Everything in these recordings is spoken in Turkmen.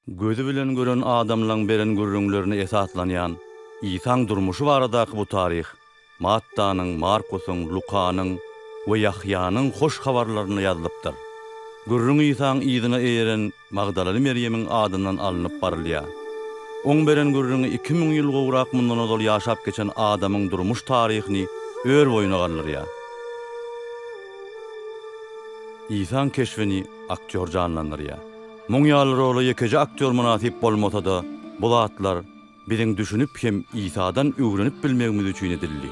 Gözi bilen gören adamlaň beren gürrüňlerine esaslanýan Isaň durmuşy baradaky bu taryh Mattanyň, Markusyň, Lukanyň we Ýahýanyň Hoş Habarlarynda ýazylypdyr. Gürrüň Isaň yzyna eýeren Magdalaly Merýemiň adyndan alnyp barylýar. Oň beren gürrüňi iki müň ýyl gowrak mundan ozal ýaşap geçen adamyň durmuş taryhyny ör boýuna galdyrýar. Isaň keşbini aktýor janlandyrýar. Muň ýaly rola ýekeje aktýor mynasyp bolmasa-da, bu zatlar biziň düşünip hem Isadan öwrenip bilmegimiz üçin edildi.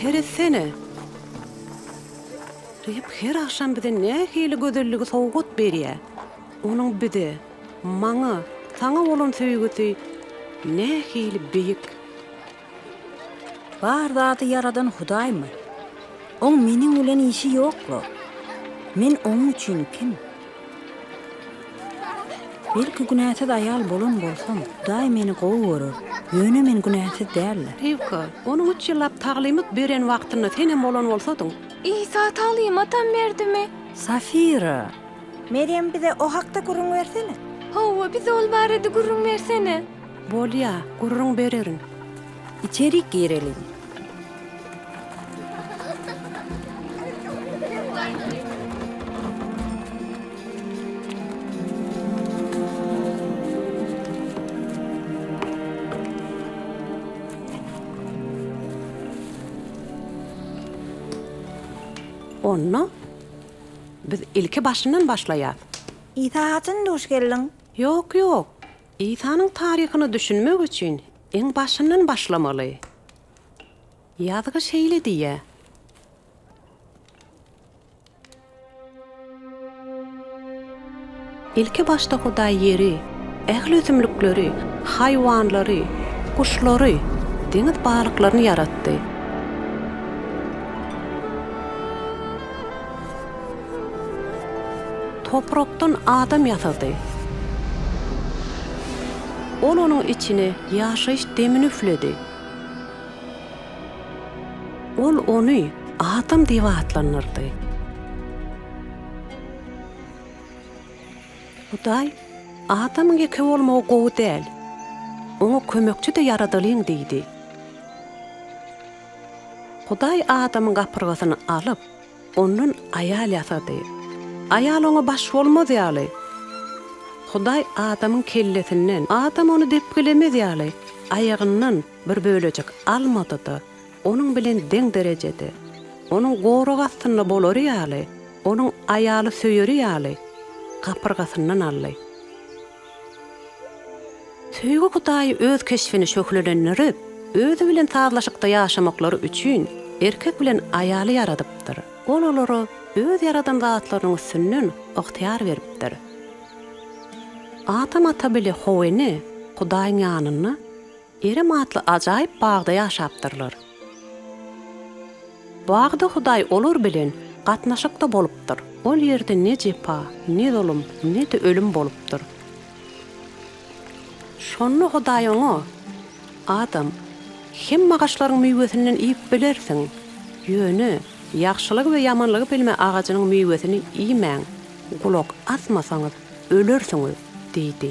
Seretsene! Reb her agşam bize nähili gözelligi sowgat berýär. Onuň bize, Maňa, saňa bolan söýgüsi nähili beýik! Bar zady ýaradan Hudaýmy? Oň meniň bilen işi ýokla. Men oň üçin kim? Belki günäsiz aýal bolan bolsam, Hudaý meni gowy görer, ýöne men günäsiz däldir. Riwka, onuň üç ýyllap taglymat beren wagtynda senem bolan bolsadyň. Isa taglymatam berdimi? Safira! Merýem bize o hakda gürrüň bersene. Hawa, bize ol barada gürrüň bersene. Bolýa, gürrüň bererin. Içerik gireliň. Onda. Biz ilki başyndan başlaýas. Isa haçan duş geldiň? Ýok ýok. Isanyň taryhyna düşünmek üçin iň başyndan başlamaly. Ýazgy şeýle diýýä. Ilki başda Hudaý ýeri, ähli ösümlikleri, haýwanlary, guşlary, deňiz balyklaryny ýaratdy. Toprakdan adam ýasady. Ol onuň içine ýaşaýyş demini üfledi. Ol ony Adam diýip atlandyrdy. Hudaý, Adamyň ýeke bolmagy gowy däl. Oňa kömekçi-de ýaradalyň diýdi. Hudaý Adamyň gapyrgasyny alyp, ondan aýal ýasady. Aýal oňa baş bolmaz ýaly, Hudaý Adamyň kellesinden, Adam ony depgilemez ýaly, aýagyndan bir bölejik almady-da, Onuň bilen deň derejede, onuň gorag astynda bolary ýaly, onuň aýaly söýeri ýaly, gapyrgasyndan aldy. Söýgi Hudaýy öz keşbini şöhlelendirip, özi bilen sazlaşykda ýaşamaklary üçin erkek bilen aýaly ýaradypdyr. Ol olara öz ýaradan zatlarynyň üstünden ygtyýar beripdir. Adam ata bile Howwany Hudaýyň ýanynda Erem atly ajaýyp bagda ýaşapdyrlar. Bagda Hudaý olar bilen gatnaşykda bolupdyr. Ol ýerde ne jepa, ne zulum, ne-de ölüm bolupdyr. Şonda Hudaý oňa, Adam, hemme agaçlaryň miwesinden iýip bilersiň, ýöne ýagşylygy we ýamanlygy bilme agajynyň miwesini iýmäň, gulak asmasaňyz, ölersiňiz diýdi.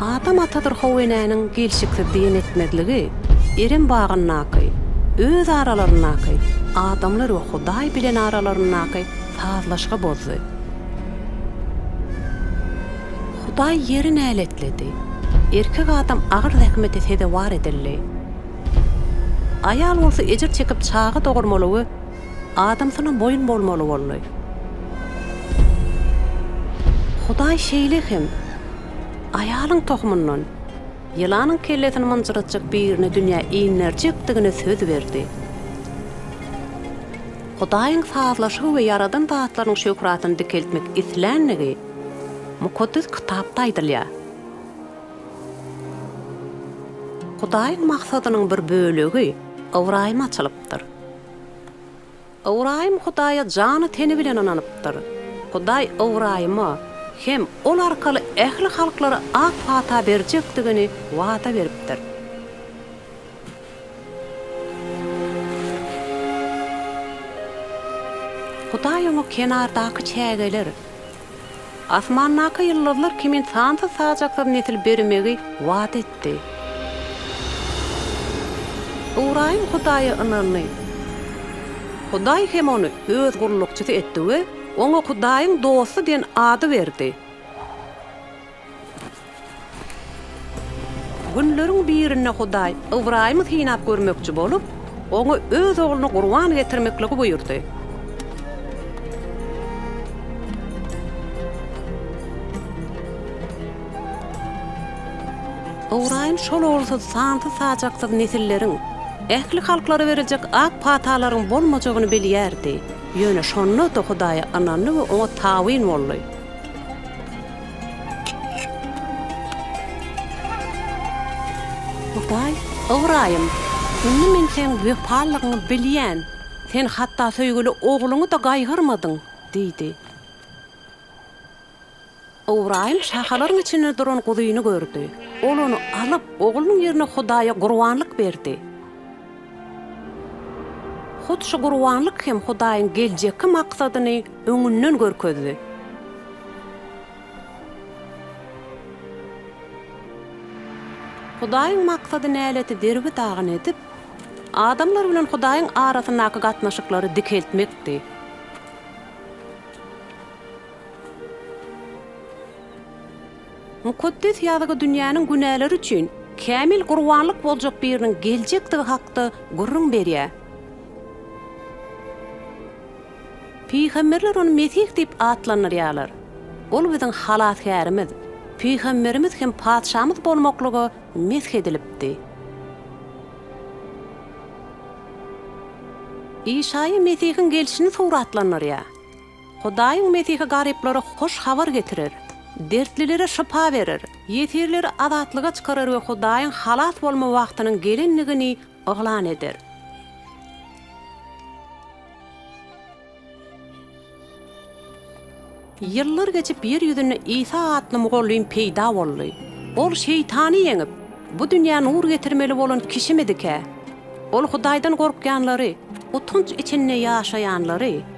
Adam atadyr how enäniň gelşiksiz diýen etmezligi, Erem bagyndaky, öz aralaryndaky, adamlar we Hudaý bilen aralaryndaky sazlaşygy bozdy. Hudaý ýeri näletledi. Erkek adam agyr zähmete sezewar edildi. Aýal bolsa ejir çekip çaga dogurmaly we Adamsyna boýun bolmaly boldy. Hudaý şeýle hem aýalyň tohumyndan ýylanyň kellesini mynjyratjak birini dünýä inderjekdigine söz berdi. Hudaýyň sazlaşygy we ýaradan zatlarynyň şöhratyny dikeltmek isländigi Mukaddes Kitapda aýdylýar. Hudaýyň maksadynyň bir bölegi Ybraýyma açylypdyr. Ybraýym Hudaýa jany-teni bilen ynanypdyr. Hudaý Ybraýyma hem ol arkaly ähli halklara ak pata berjekdigini wada beripdir. Hudaý oňa kenardaky çägeler. Asmandaky ýyldyzlar kimin sansyz-sajaksyz nesil bermegi wada etdi. Ybraýym Hudaýa ynandy. Hudaý hem ony Öz gullukçysy etdi we oňa Hudaýyň dosty diýen ady berdi. Günleriň birinde Hudaý Ybraýymy synap görmekçi bolup, oňa öz ogluny gurban getirmekligi buýurdy. Ybraýym şol ogulsyz sansyz-sajaksyz nesilleriň, ähli halklara beriljek ak patalaryň bolmajagyny bilýärdi, ýöne şonda-da Hudaýa ynandy we oňa tabyn boldy. Hudaý, Ybraýym, indi men seň wepalylygyňy bilýän, sen hatda söýgüli ogluňy-da gaýgyrmadyň diýdi. Ybraýym şahalaryň içinde duran guzyny gördi. Ol ony alyp, oglunyň ýerine Hudaýa gurbanlyk berdi. Hut şu gurbanlyk hem Hudaýyň geljekki maksadyny öňünden görkezdi. Hudaýyň maksady näleti derbi dagyn edip, adamlar bilen Hudaýyň arasyndaky gatnaşyklary dikeltmekdi. Mukaddes Ýazgy dünýäniň günäleri üçin kämil gurbanlyk boljak biriniň geljekdigi hakda gürrüň berýär. Pygamberler ony Mesih diýip atlandyrýarlar. Ol biziň Halasgärimiz, Pygamberimiz hem Patyşamyz bolmaklyga mesh edilipdi. Işaýa Mesihiň gelşini suratlandyrýar. Hudaýyň Mesihi garyplara hoş habar getirer, dertlilere şypa berer, ýesirleri azatlyga çykarar we Hudaýyň halas bolma wagtynyň gelendigini yglan eder. Ýyllar geçip ýer ýüzünde Isa atly mugallym peýda boldy. Ol Şeýtany ýeňip, bu dünýä nur getirmeli bolan kişimidikä? Ol Hudaýdan gorkýanlary, utanç içinde ýaşaýanlary,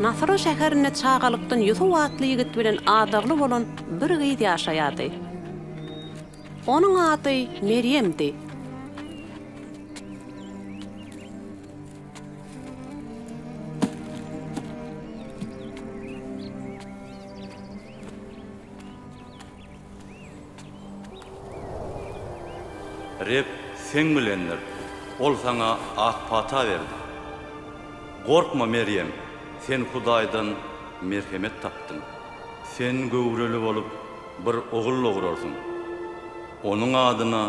Nasra şäherinde çagalykdan Ýusup atly ýigit bilen adagly bolan bir gyz ýaşaýardy. Onuň ady Merýemdi. Reb seň bilendir, Ol saňa ak pata berdi. Gorkma, Merýem, sen Hudaýdan merhemet tapdyň. Sen göwreli bolup, bir ogul dograrsyň. Onuň adyna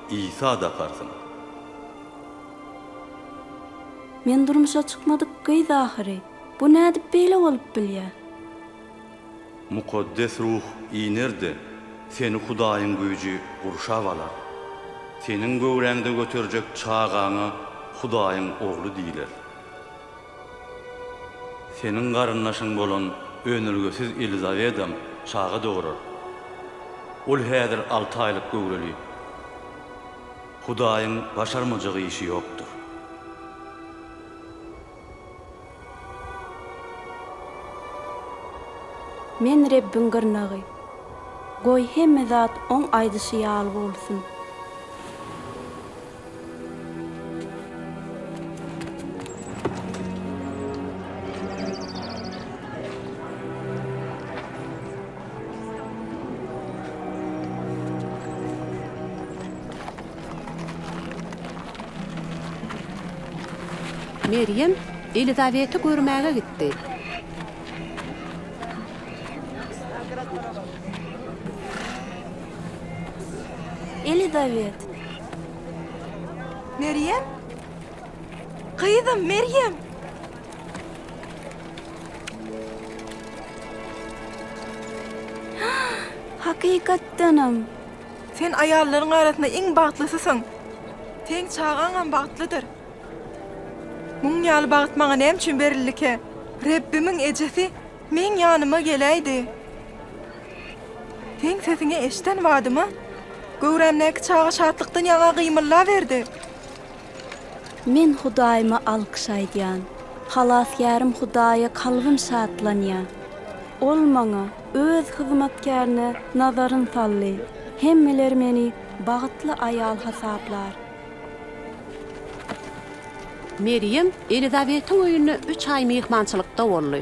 Isa dakarsyň. Men durmuşa çykmadyk gyz ahyry. Bu nädip beýle bolup bilýär? Mukaddes Ruh iner-de, seni Hudaýyň güýji gurşap alar. Seniň göwräňde göterjek çagaňa Hudaýyň Ogly diýler. Seniň garyndaşyň bolan önelgesiz Elizawedam çaga dogurar. Ol häzir alty aýlyk göwreli. Hudaýyň başarmajak işi ýokdur. Men Rebbiň gyrnagy. Goý, hemme zat Oň aýdyşy ýaly bolsun. Merýem Elizabeti görmäge gitdi. Elizabet. Merýem? Gyzym, Merýem! Hakykatdanam, Sen aýallaryň arasynda iň bagtlysysyň. Seň çagaňam bagtlydyr. Muň ýaly bagt maňa näme üçin berildike? Rebbimiň ejesi meň ýanyma geläýdi. Seň sesiňi eşden badyma, göwrämdäki çaga şatlykdan ýaňa gymyllaberdi. Men Hudaýyma alkyş aýdýan. Halasgärim Hudaýa kalbym şatlanýar. Ol maňa, Öz hyzmatkärini nazaryn saldy. Hemmeler meni bagtly aýal hasaplar. Merýem Elizabetiň öýünde üç aý myhmançylykda boldy.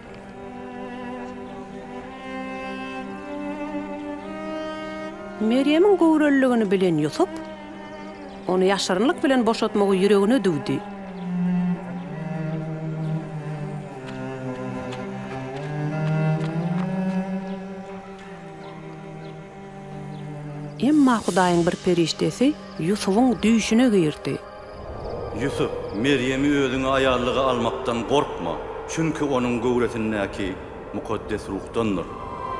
Merýemiň göwreliligini bilen Ýusup, ony ýaşyrynlyk bilen boşatmagy ýüregine düwdi. Emma Hudaýyň bir perişdesi Ýusubyň düýşüne girdi. Ýusup, Merýemi özüňe aýallyga almakdan gorkma, çünki onuň göwresindäki Mukaddes Ruhdandyr.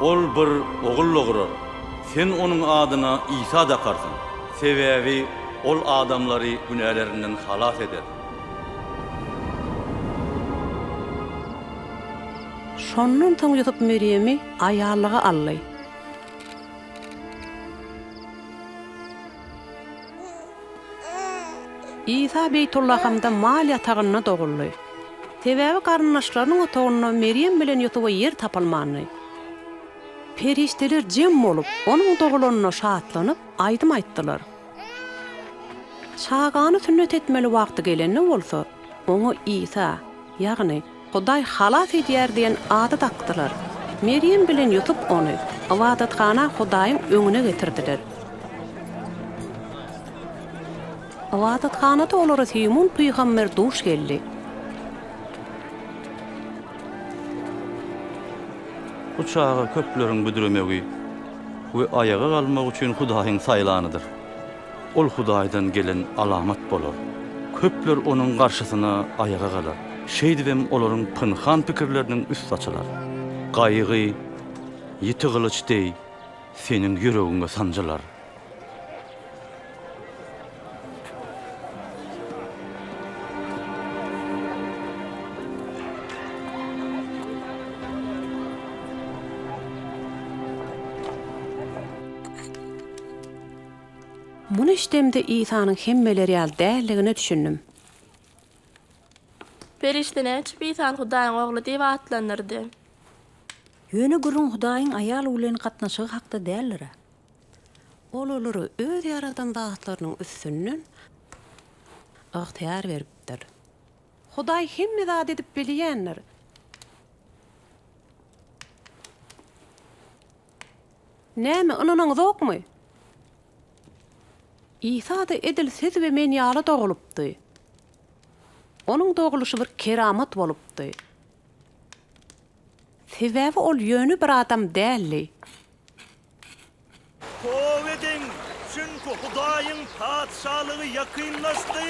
Ol bir ogul dogurar, sen onuň adyna Isa dakarsyň, sebäbi ol adamlary günälerinden halas eder. Şondan soň Ýusup Merýemi aýallyga aldy. Isa Beýtullahamda mal ýatagynda doguldy. Sebäbi garyndaşlarynyň otagynda Merýem bilen Ýusuba ýer tapylmandy. Perişdeler jem bolup, onuň dogulanyna şatlanyp, aýdym aýtdylar. Çagany sünnet etmeli wagty gelende bolsa, oňa Isa, ýagny Hudaý halas edýär diýen ady dakdylar. Merýem bilen Ýusup ony ybadathana Hudaýyň öňüne getirdiler. Ybadathanada olara Simun pygamber duş geldi. Bu çaga köpleriň büdremegi we aýaga galmagy üçin Hudaýyň saýlanydyr. Ol Hudaýdan gelen alamat bolar. Köpler onuň garşysyna aýaga galar. Şeýdibem olaryň pynhan pikirleriniň üsti açylar. Gaýgy ýiti gylyç deý seniň ýüregiňe sanjylar. Muny eşidemde Isanyň hemmeler ýaly däldigine düşündim. Perişde näçip Isany Hudaýyň Ogly diýip atlandyrdy? Ýöne gürrüň Hudaýyň aýal bilen gatnaşygy hakda däldir-ä. Ol olara Öz ýaradan zatlarynyň üstünden ygtyýar beripdir. Hudaý hemme zady edip bilýändir. Näme, ynanaňyzokmy? Isa-da edil siz we men ýaly dogulypdy. Onuň dogulyşy bir keramat bolupdy. Sebäbi ol ýöne bir adam däldi. Toba ediň, çünki Hudaýyň Patyşalygy ýakynlaşdy.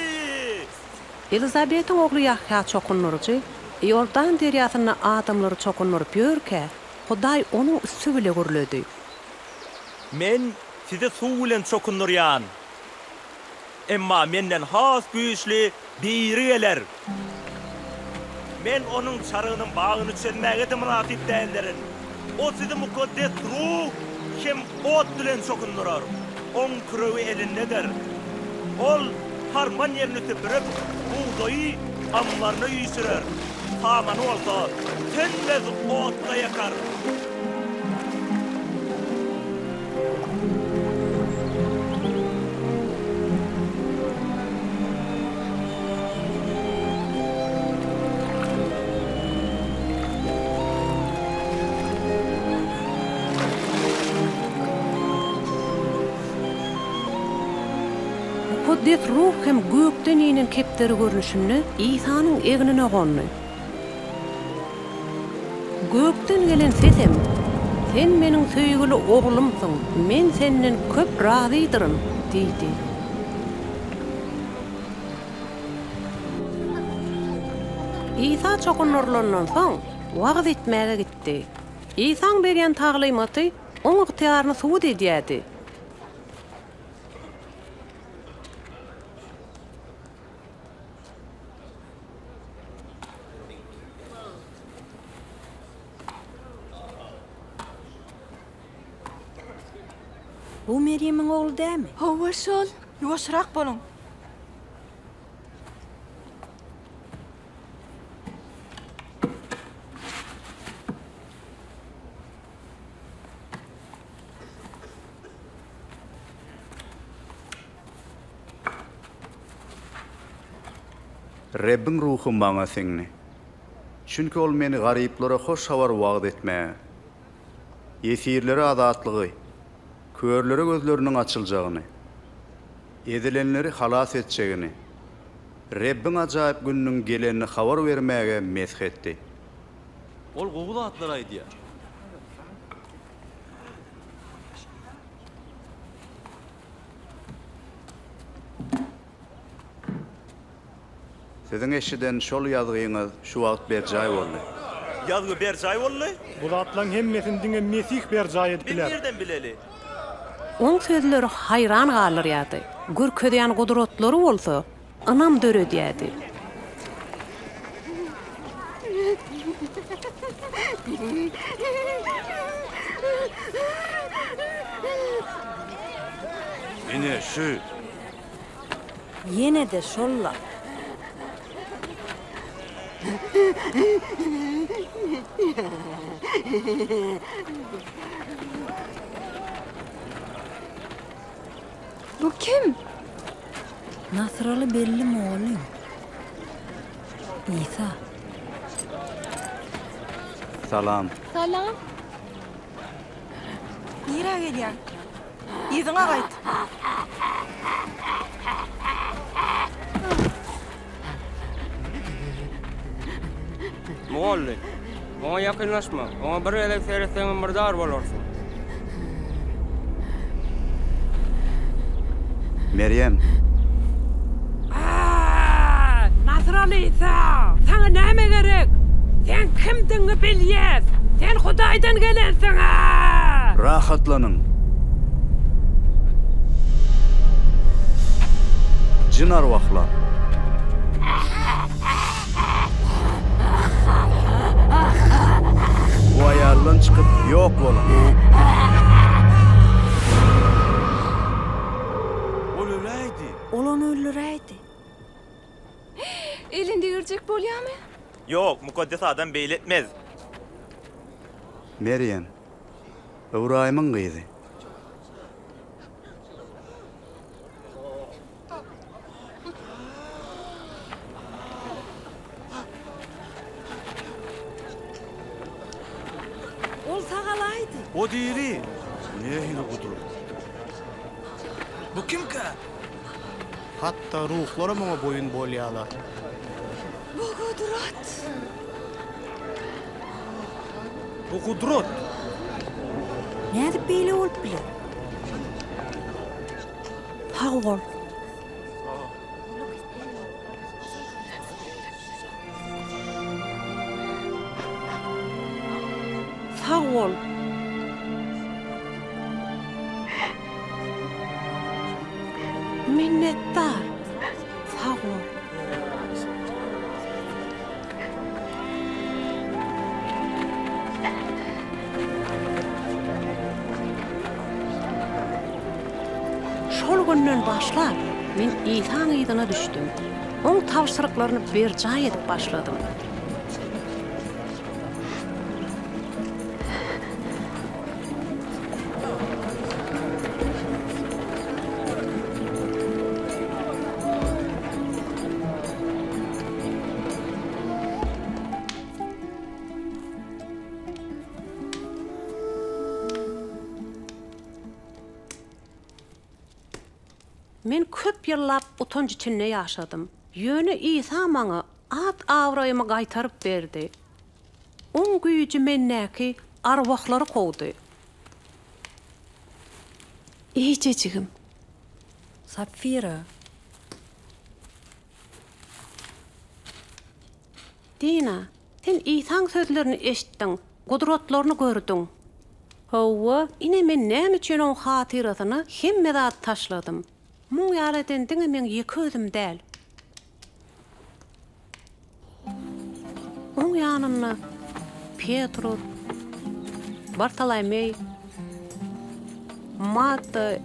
Elizabetiň ogly Ýahýa çokundyryjy Iordan derýasynda adamlary çokundyryp ýörkä, Hudaý onuň üsti bile gürledi. Men sizi suw bilen çokundyrýan. Emma Menden has güýçli Biri geler. Men Onuň çarygynyň bagyny çözmäge-de mynasyp däldirin. O sizi mukaddes Ruh hem. Ot bilen çokundyrar. Oň küregi elindeder. Ol harman ýerini süpürip, bugdaýy ammaryna üýşürer, samany bolsa tönmez otda ýakar. Mukaddes Ruh hem gökden inen kepderi görnüşinde Isanyň egnine gondy. Gökden gelen sesem, Sen Meniň söýgüli Oglumsyň, Men Senden köp razydyryn! diýdi. Isa çokundyrylandan soň, wagyz etmäge gitdi. Isaň berýän taglymaty Oň ygtyýaryny subut edýärdi. Bu Merýemiň ogly dälmi? Hawa, şol. Ýuwaşrak boluň. Rebbiň Ruhy maňa siňdi. Çünki Ol meni garyplara hoş habary wagyz etmäge, ýesirlere azatlygy, körlere gözleriniň açyljagyny, ezilenleri halas etjegini, Rebbiň ajaýyp gününiň gelenini habar bermäge mesh etdi. Ol gowy zatlar aýdýar. Siziň eşiden şol ýazgyňyz şu wagt berjaý boldy. Ýazgy berjaý boldy. Bu zatlaryň hemmesini diňe Mesih berjaý edip biler. Biz nireden bileli? Oň sözleri haýran galdyrýardy, görkezýän gudratlary bolsa ynam döredýärdi. Ine, şu. Ýene-de şol-la. Bu kim? Nasraly belli mugallym. Isa. Salam. Salam. Nirä gelýäň? Yzyňa gaýt! Mugolly, oňa ýakynlaşma. Oňa bir gezek seretseňem murdar bolarsyň. Merýem! Aaa! Nasraly Isa, saňa näme gerek? Seň kimdigiňi bilýäs! Sen Hudaýdan gelensiň! Aaa! Rahatlanyň! Jyn-arwahlar! Bu aýaldan çykyp, ýok boluň! Ol öläýdi! Ol ony öldüräýdi. Elin degirjek bolýamy? Ýok, mukaddes adam beýle etmez. Merýem, Ybraýymyň gyzy. Ol sagalaýdy. O diri. Nähili gudrat? Bu kimkä? Hatda ruhlara muňa boýun bolýarlar. Bu gudrat. Bu gudrat. Nädip beýle bolup biler? Sag bol. Sag bol. Minnetdar. Sag bol. Şol günden başlap, men Isaň yzyna düşdüm. Oň tabşyryklaryny berjaý edip başladym. Men köp ýyllap utanç içinde ýaşadym. Ýöne Isa maňa at-abraýymy gaýtaryp berdi. Oň güýji mendäki arwahlary kowdy. Eýjejigim. Sapfira. Dina, sen Isaň sözlerini eşitdiň, gudratlaryny gördüň. Hawa, ine men näme üçin oň hatyrasyna hemme zady taşladym. Muň ýaly eden diňe meň ýeke özüm däl. Onuň ýanynda Petrus, Bartolomeý, Matta,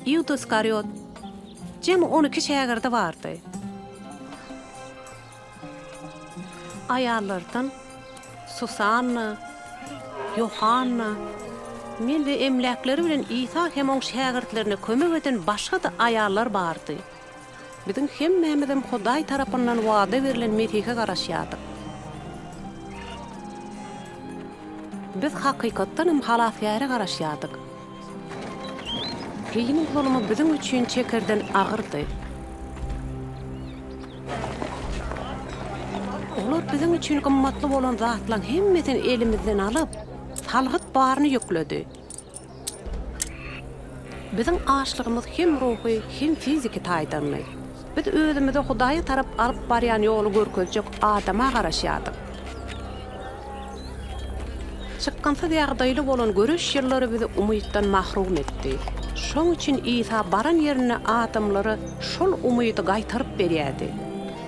Ýuda Iskariot, jemi on iki şägirdi bardy. Aýallardan Susanna, Ýohanna, men we emläkleri bilen Isa hem oň şägirtlerine kömek eden başga-da aýallar bardy. Biziň hemmämizem Hudaý tarapyndan wada berlen Mesihe garaşýardyk. Biz hakykatdan hem Halasgäre garaşýardyk. Rimiň zulumy biziň üçin çekerden agyrdy. Olar biziň üçin gymmatly bolan zatlaryň hemmesini elimizden alyp, salgyt baryny ýükledi. Biziň açlygymyz hem ruhy, hem fiziki taýdanmy? Biz özümizi Hudaýa tarap alyp barýan ýoly görkezjek adama garaşýardyk. Çykgynsyz ýagdaýly bolan göreş ýyllary bizi umytdan mahrum etdi. Şoň üçin Isa baran ýerinde adamlara şol umydy gaýtaryp berýärdi.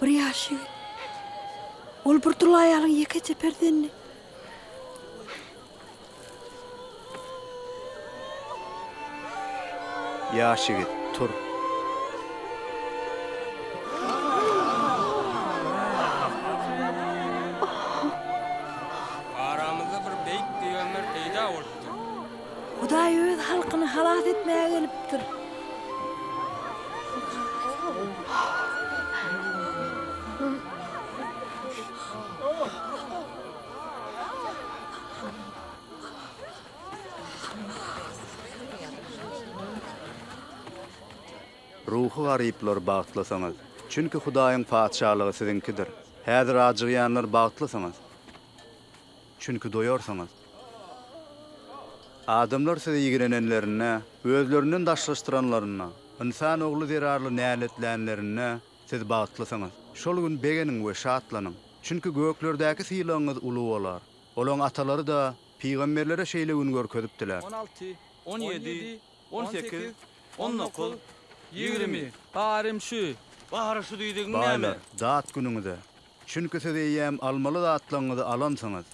Bir ýaş ýigit. Ol bir dul aýalyň ýekeje perzendi. Ýaş ýigit, tur. Aramyzda bir beýik peýgamber peýda bolupdyr. Hudaý öz halkyny halas etmäge gelipdir. Ruhy garyplar, bagtlysyňyz, çünki Hudaýyň Patyşalygy siziňkidir. Häzir ajygýanlar, bagtlysyňyz. Çünki doýarsyňyz. Adamlar size ýigrenenlerinde, özlerinden daşlaşdyranlarynda, ynsan ogly zerarly näletlänlerinde, siz bagtlysyňyz. Şol gün begeniň we şatlanyň. Çünki göklerdäki sylagyňyz uly bolar. Olaň atalary-da pygamberlere şeýle gün görkezipdiler. On alty, on ýedi, on sekiz, on dokuz, ýigrimi. Barym şu. Bahary şu diýdigiň näme? Baýlar, dat günüňize. Çünki siz eýýäm almaly zatlaryňyzy alansyňyz.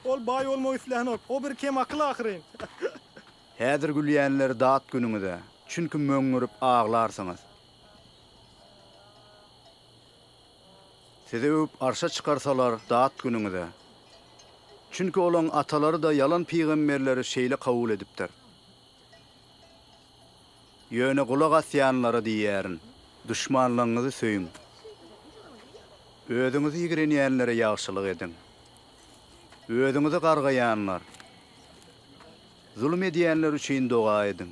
Ol baý bolmak islänok. O bir kemakyl ahyryn. Häzir gülýänler dat günüňize, çünki möňňürip aglarsyňyz. Sizi öwüp arşa çykarsalar dat günüňize. Çünki olaň atalary-da ýalan pygamberleri şeýle kabul edipdir. Ýöne gulak asýanlara diýýärin. Duşmanlaryňyzy söýüň. Özüňizi ýigrenýänlere ýagşylyk ediň. Özüňizi gargaýanlar, zulum edýänler üçin doga ediň.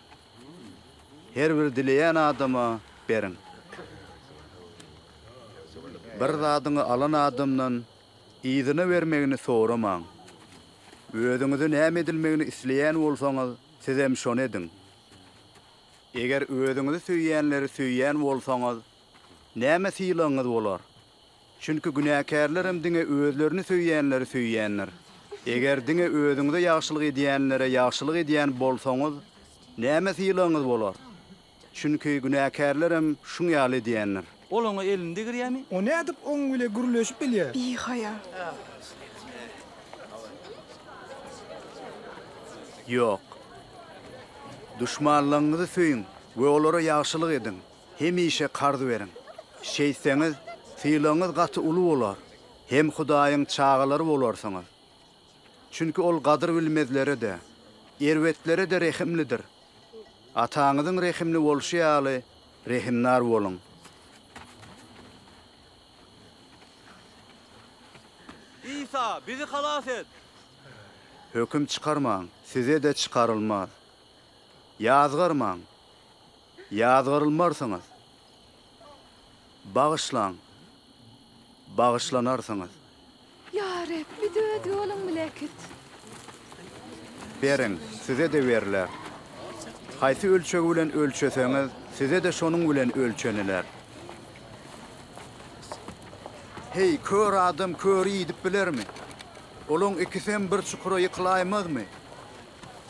Her bir dileýän adama beriň. Bir zadyňy alan adamdan yzyna bermegini soramaň. Özüňize näme edilmegini isleýän bolsaňyz, sizem şony ediň. Eger özüňizi söýýänleri söýýän bolsaňyz, Näme sylagyňyz bolar? Çünki günäkärlerem diňe özlerini söýýänleri söýýändir. Eger diňe özüňize ýagşylyk edýänlere ýagşylyk edýän bolsaňyz, näme sylagyňyz bolar? Çünki günäkärlerem şuň ýaly edýändir. Ol oňa elini degirýärmi? O nädip oň bile gürleşip bilýär? Bihaýa. Ýok. Duşmanlaryňyzy söýüň we olara ýagşylyk ediň. hemişe karz beriň. Şeýtseňiz, sylagyňyz gaty uly bolar, hem Hudaýyň çagalary bolarsyňyz. Çünki Ol gadyrbilmezlere-de, erbetlere-de rehimlidir. Ataňyzyň rehimli bolşy ýaly, rehimdar boluň. Isa, bizi halas et! Höküm çykarmaň, size-de çykarylmaz. Ýazgarmaň! Ýazgarylmarsyňyz. Bagyşlaň. Bagyşlanarsyňyz. Ýa Reb, bizi Öz ýoluň bile äkit. Beriň, size-de berler. Haýsy ölçeg bilen ölçeseňiz, size-de şonuň bilen ölçeniler. Heý, kör adam köri iýdip bilermi? Olaň ikisem bir çukura ýykylaýmazmy?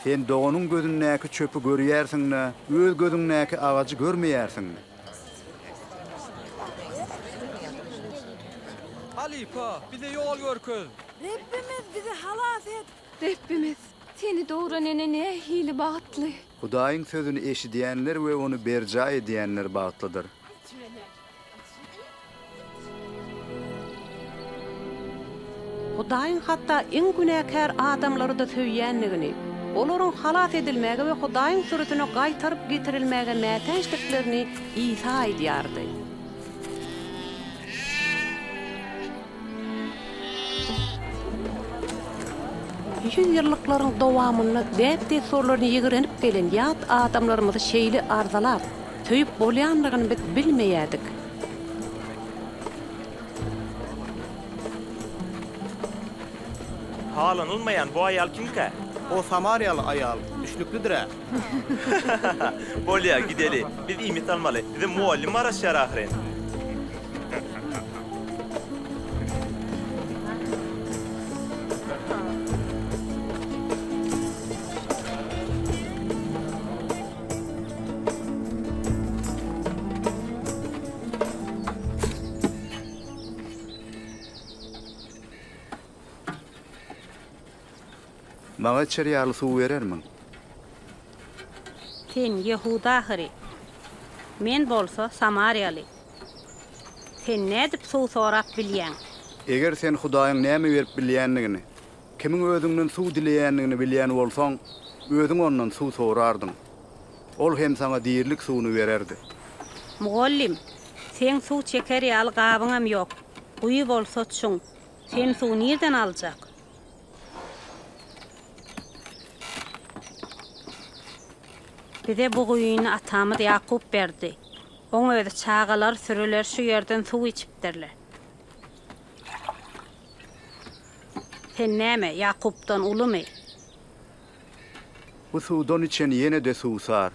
Sen doganyň gözündäki çöpi görýärsiň-de, öz gözüňdäki agajy görmeýärsiňmi? Halypa, bize ýol görkez! Rebbimiz, bizi halas et! Rebbimiz, Seni dogran ene nähili bagtly! Hudaýyň sözüni eşidýänler we ony berjaý edýänler bagtlydyr. Hudaýyň hatda iň günäkär adamlary-da söýýändigini, olaryň halas edilmäge we Hudaýyň sürüsine gaýtaryp getirilmäge mätäçdiklerini Isa aýdýardy. Ýüzýyllyklaryň dowamynda däp-dessurlaryny ýigrenip gelen ýat adamlarymyzy şeýle arzalap, söýüp bolýandygyny biz bilmeýärdik. Halanylmaýan bu aýal kimkä? O samariýaly aýal düşnüklidir-ä. Bolýar, gideli. Biz iýmit almaly. Bize mugallym garaşýar ahyryn. Maňa içer ýaly suw berermiň? Sen ýehudy ahyry. Men bolsa samariýaly. Sen nädip suw sorap bilýäň? Eger sen Hudaýyň näme berip bilýändigini, kimiň özüňden suw dileýändigini bilýän bolsaň, özüň ondan suw sorardyň. Ol hem saňa dirilik suwuny bererdi. Mugallym, seň suw çeker ýaly gabyňam ýok, guýy bolsa çuň. Sen suw nirden aljak? Bize bu guýyny atamyz Ýakup berdi. Oň özi, çagalar, süriler şu ýerden suw içipdirler. Sen näme, Ýakupdan ulumy? Bu suwdan içen ýene-de suwsar.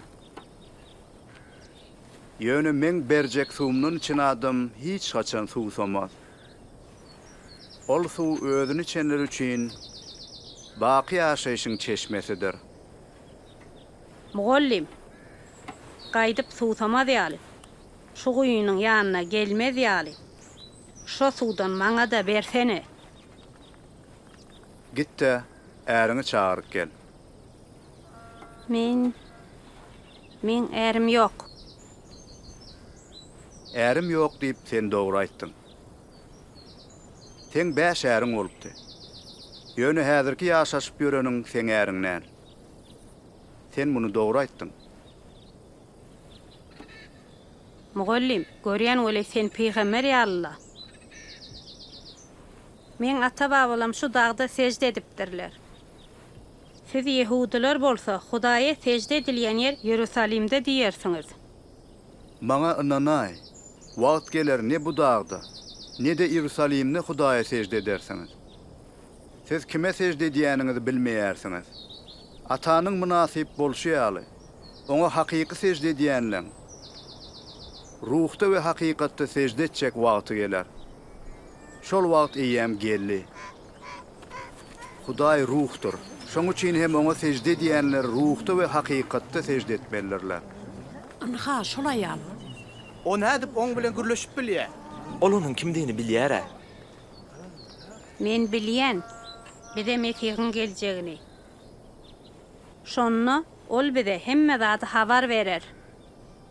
Ýöne meň berjek suwumdan içen adam hiç haçan suwsamaz. Ol suw özüni içenler üçin baky ýaşaýşyň çeşmesidir. Mugallym, gaýdyp suwsamaz ýaly, şu guýynyň ýanyna gelmez ýaly, şo suwdan maňa-da bersene! Git-de, äriňi çagyryp gel. Men Meň ärim ýok. Ärim ýok diýip sen dogry aýtdyň. Seň bäş äriň bolupdy. Ýöne häzirki ýaşaşyp ýöreniň seň äriň däl. Sen muny dogry aýtdyň. Mugallym, görýän weli sen pygamber ýaly-la. Meň ata-babalam şu dagda sežde edipdirler. Siz ýehudylar bolsa, Hudaýa sežde edilýän ýer Ýerusalimde diýersiňiz. Maňa ynanaý, wagt geler ne bu dagda, ne-de Ýerusalimde Hudaýa sežde edersiňiz. Siz kime sežde edýäniňizi bilmeýärsiňiz. Atanyň mynasyp bolşy ýaly, Oňa hakyky sežde edýänleň ruhda we hakykatda sežde etjek wagty geler. Şol wagt eýýäm geldi. Hudaý ruhdur. Şoň üçin hem Oňa sežde edýänler ruhda we hakykatda sežde etmelidirler. Ynha, şol aýal. O nädip oň bilen gürleşip bilýär? Ol onuň kimdigini bilýär-ä. Men bilýän. Bize Mesihiň geljegini. Şonda Ol bize hemme zady habar berer.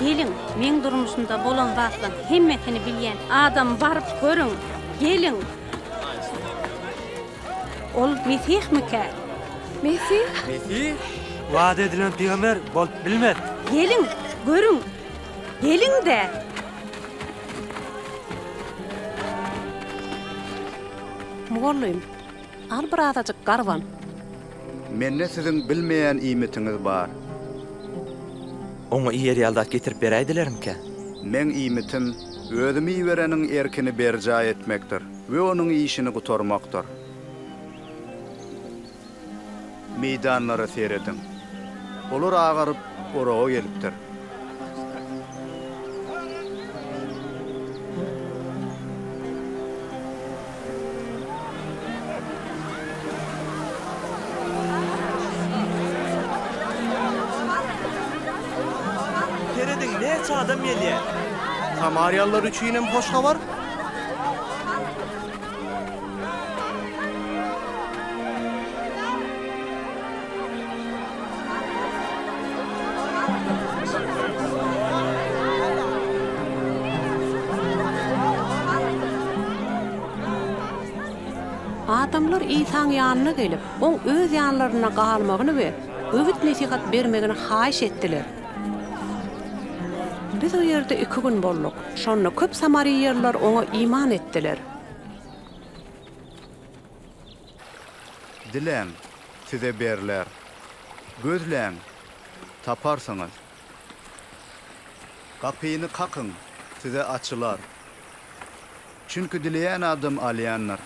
Geliň, meň durmuşymda bolan zatlaryň hemmesini bilýän adamy baryp görüň. Geliň! Ol Mesihmikä? Mesih? Mesih? Wada edilen pygamber bolup bilmez. Geliň, görüň! Geliň-de! Mugallym! Al bir azajyk garwan. Mende siziň bilmeýän iýmitiňiz bar. Oňa iýer ýaly zat getirip beräýdilerimkä? Meň iýmitim, Özümi ibereniň erkini berjaý etmekdir we onuň işini gutarmakdyr. Meýdanlara serediň. Olar agaryp, oraga gelipdir. Serediň, näçe adam gelýär. Samariýalylar üçinem hoş habar. Adamlar Isaň ýanyna gelip, Oň öz ýanlarynda galmagyny we öwüt-nesihat bermegini haýyş etdiler. Biz o ýerde iki gün bolduk. Şonda köp samariýalylar oňa iman etdiler. Diläň, size berler. Gözläň, taparsyňyz. Gapyny kakyň, size açylar. Çünki dileýän adam alýandyr.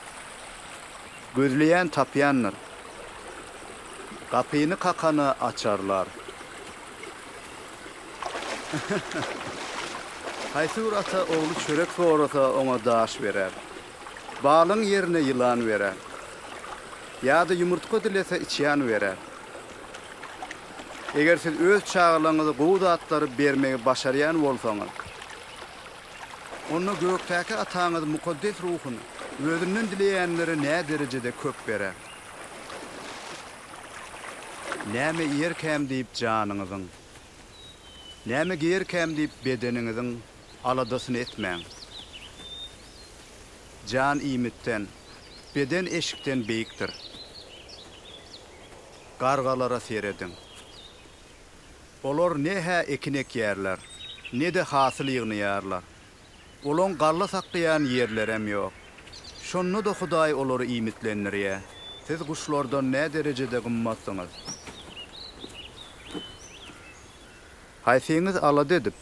Gözleýän tapýandyr. Gapyny kakana açarlar. Haýsy bir ata ogly çörek sorasa, oňa daş berer. Balygyň ýerine ýylan berer. Ýa-da ýumurtga dilese, içýan berer. Eger siz öz çagalaryňyza gowy zatlary bermegi başarýan bolsaňyz. Onda gökdäki Ataňyz mukaddes ruhuny Özünden dileýänlere näderejede köp berer! Näme iýerkäm diýip janyňyzyň, näme geýerkäm diýip bedeniňiziň aladasyny etmäň. Jan iýmitden, beden eşikden beýikdir. Gargalara serediň. Olar ne-hä ekin ekýärler, ne-de hasyl ýygnaýarlar. Olaň galla saklaýan ýerlerem ýok. Şonda-da Hudaý olary iýmitlendirýär. Siz guşlardan nä derejede gymmatsyňyz! Haýsyňyz alada edip,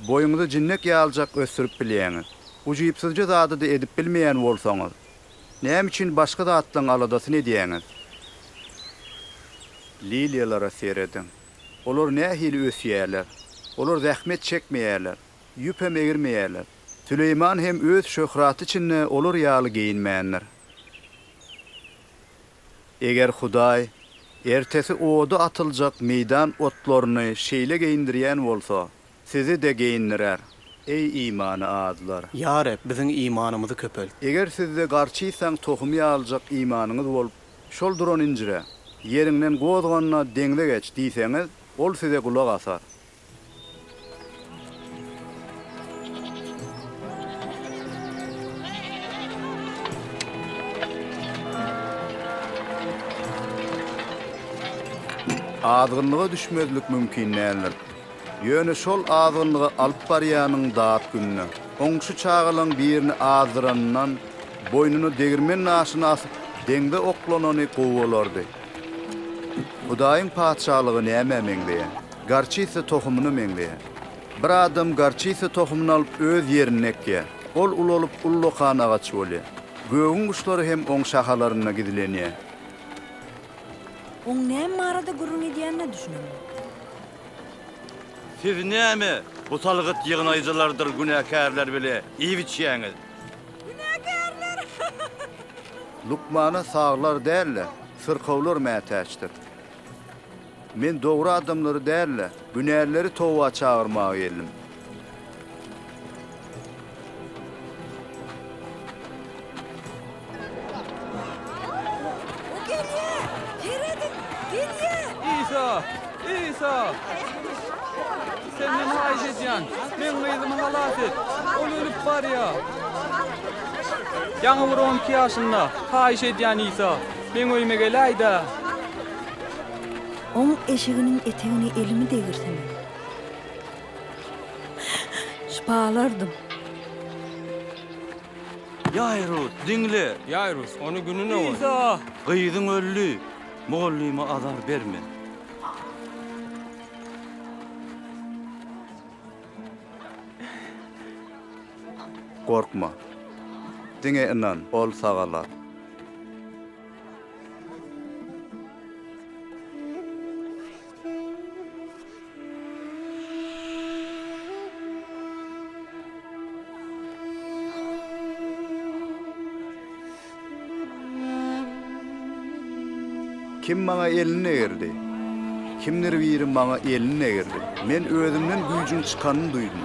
boýuňyzy jinnek ýalyjak ösdürip bilýäňiz? Ujypsyzja zady-da edip bilmeýän bolsaňyz, Näme üçin başga zatlaryň aladasyny edýäňiz? Liliýalara serediň. Olar nähili ösýärler? Olar zähmet çekmeýärler, ýüpem egirmeýärler. Süleýman hem öz şöhraty içinde olar ýaly geýinmändir. Eger Hudaý ertesi oda atyljak meýdan otlaryny şeýle geýindirýän bolsa, Sizi-de geýindirer, eý, imany azlar! Ýa Reb, biziň imanymyzy köpelt! Eger sizde garçysaň tohumy ýalyjak imanyňyz bolup, şol duran injire, Ýeriňden gozgan-da, deňze geç! diýseňiz, ol size gulak asar. Azgynlyga düşmezlik mümkin däldir. Ýöne şol azgynlygy alyp barýanyň dat gününe, oň şu çagalaň birini azdyranyndan, boýnuna degirmen daşyny asyp, deňze oklanany gowy bolardy. Hudaýyň Patyşalygy nämä meňzeýär? Gorçisa tohumyna meňzeýär. Bir adam gorçisa tohumyny alyp, öz ýerinde ekýär. Ol ulalyp, ullakan agaç bolýar. Gögüň guşlary hem oň şahalarynda gizlenýär. Oň näme barada gürrüň edýänine düşünelim. Siz näme, bu salgyt ýygnaýjylardyr günäkärler bile iýip-içýäňiz? Günäkärler! Lukmana saglar däl-de, syrkawlar mätäçdir. Men dogry adamlary däl-de, günälileri toba çagyrmaga geldim. Isa! Isa! Senden haýyş edýän, men gyzymy halas et. Ol ölüp barýar. Ýaňy bir 12 ýaşynda. Haýyş edýän Isa, meň öýüme geläý-dä. Oň eşiginiň etegini elimi degirsene. Şpalardyň. Ýaýrus, diňle! Ýaýrus, ony gününe goý. Liza! Gyzyň öldi. Mugallyma azar berme. Gorkma. Diňe ynan, ol sagalar. Kim maňa elini degirdi? Kimdir biri maňa elini degirdi. Men özümden güýjüň çykanyny duýdum.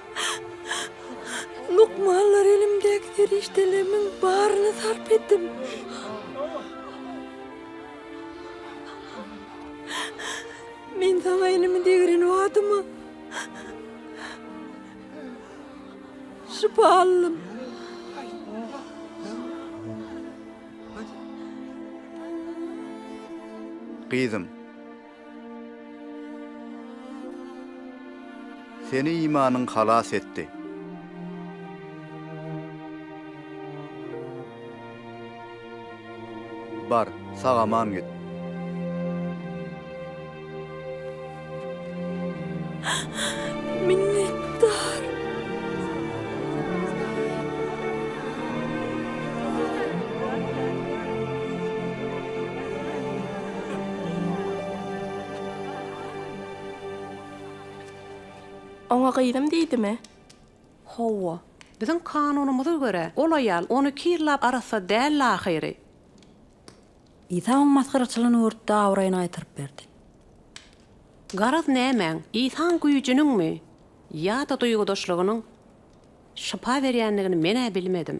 Lukmanlar elimdäki serişdelerimiň baryny sarp etdim. Men saňa elimi degren badyma şypa aldym. Gyzym. Seni imanyň halas etdi. Bar, sag-aman git. Minnetdar. Oňa gyzym diýdimi? Hawa. Biziň kanunymyza görä, ol aýal on iki ýyllap arassa däldi ahyry. Isa onuň masgaraçylygyny görüp-de abraýyny gaýtaryp berdi. Garaz nämäň, Isaň güýjüniňmi ýa-da duýgudaşlygynyň şypa berýändigini men-ä bilmedim.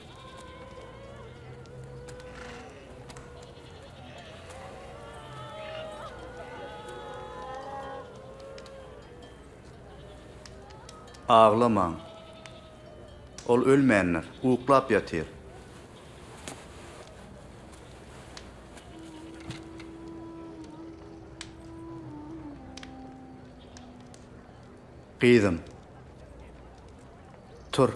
Aglamaň. Ol ölmändir, uklap ýatyr. Gyzym. Tur.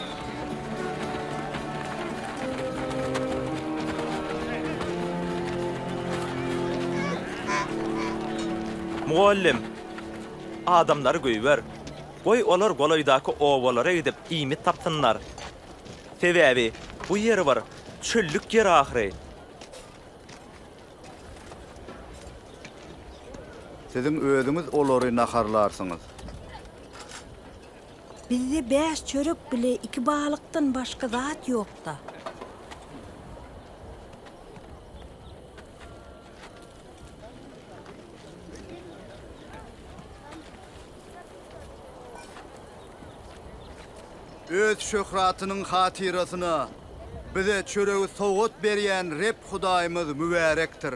Mugallym, Adamlary goýber. Goý, olar golaýdaky obalara gidip, iýmit tapsynlar. Sebäbi bu ýer bir çöllük ýer ahyry. Siziň özüňiz olary naharlarsyňyz. Bizde bäş çörek bile iki balykdan başga zat ýokda. Öz şöhratynyň hatyrasyna bize çöregi sowgat berýän Reb Hudaýymyz mübärekdir.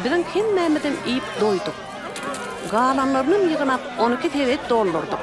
Biziň hemmämizem iýip doýduk. Galanlarynam ýygnap, on iki sebet doldurdyk.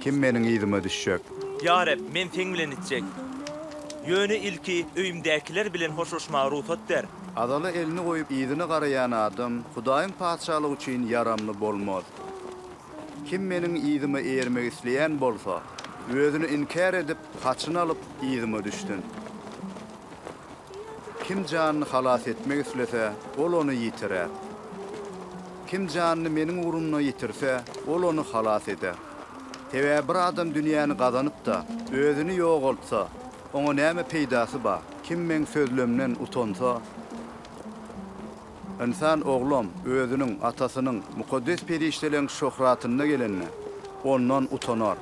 Kim meniň yzyma düşjek? Ýa Reb, men Seň bilen içjek. Ýöne ilki öýümdäkiler bilen hoşlaşmaga rugsat ber. Azala elini goýup yzyna garaýan adam Hudaýyň Patyşalygy üçin ýaramly bolmaz. Kim meniň yzyma eýermek isleýän bolsa, özüni inkär edip, haçyny alyp, yzyma düşsün. Kim janyny halas etmek islese, ol ony ýitirer. Kim janyny Meniň ugrumda ýitirse, ol ony halas eder. Sebäbi bir adam dünýäni gazanyp-da, özüni ýogaltsa, oňa näme peýdasy bar? Kim Meň sözlemden utansa, Ynsan Oglam Özüniň, Atasynyň, mukaddes perişdeleriň şöhratynda gelende, ondan utanar.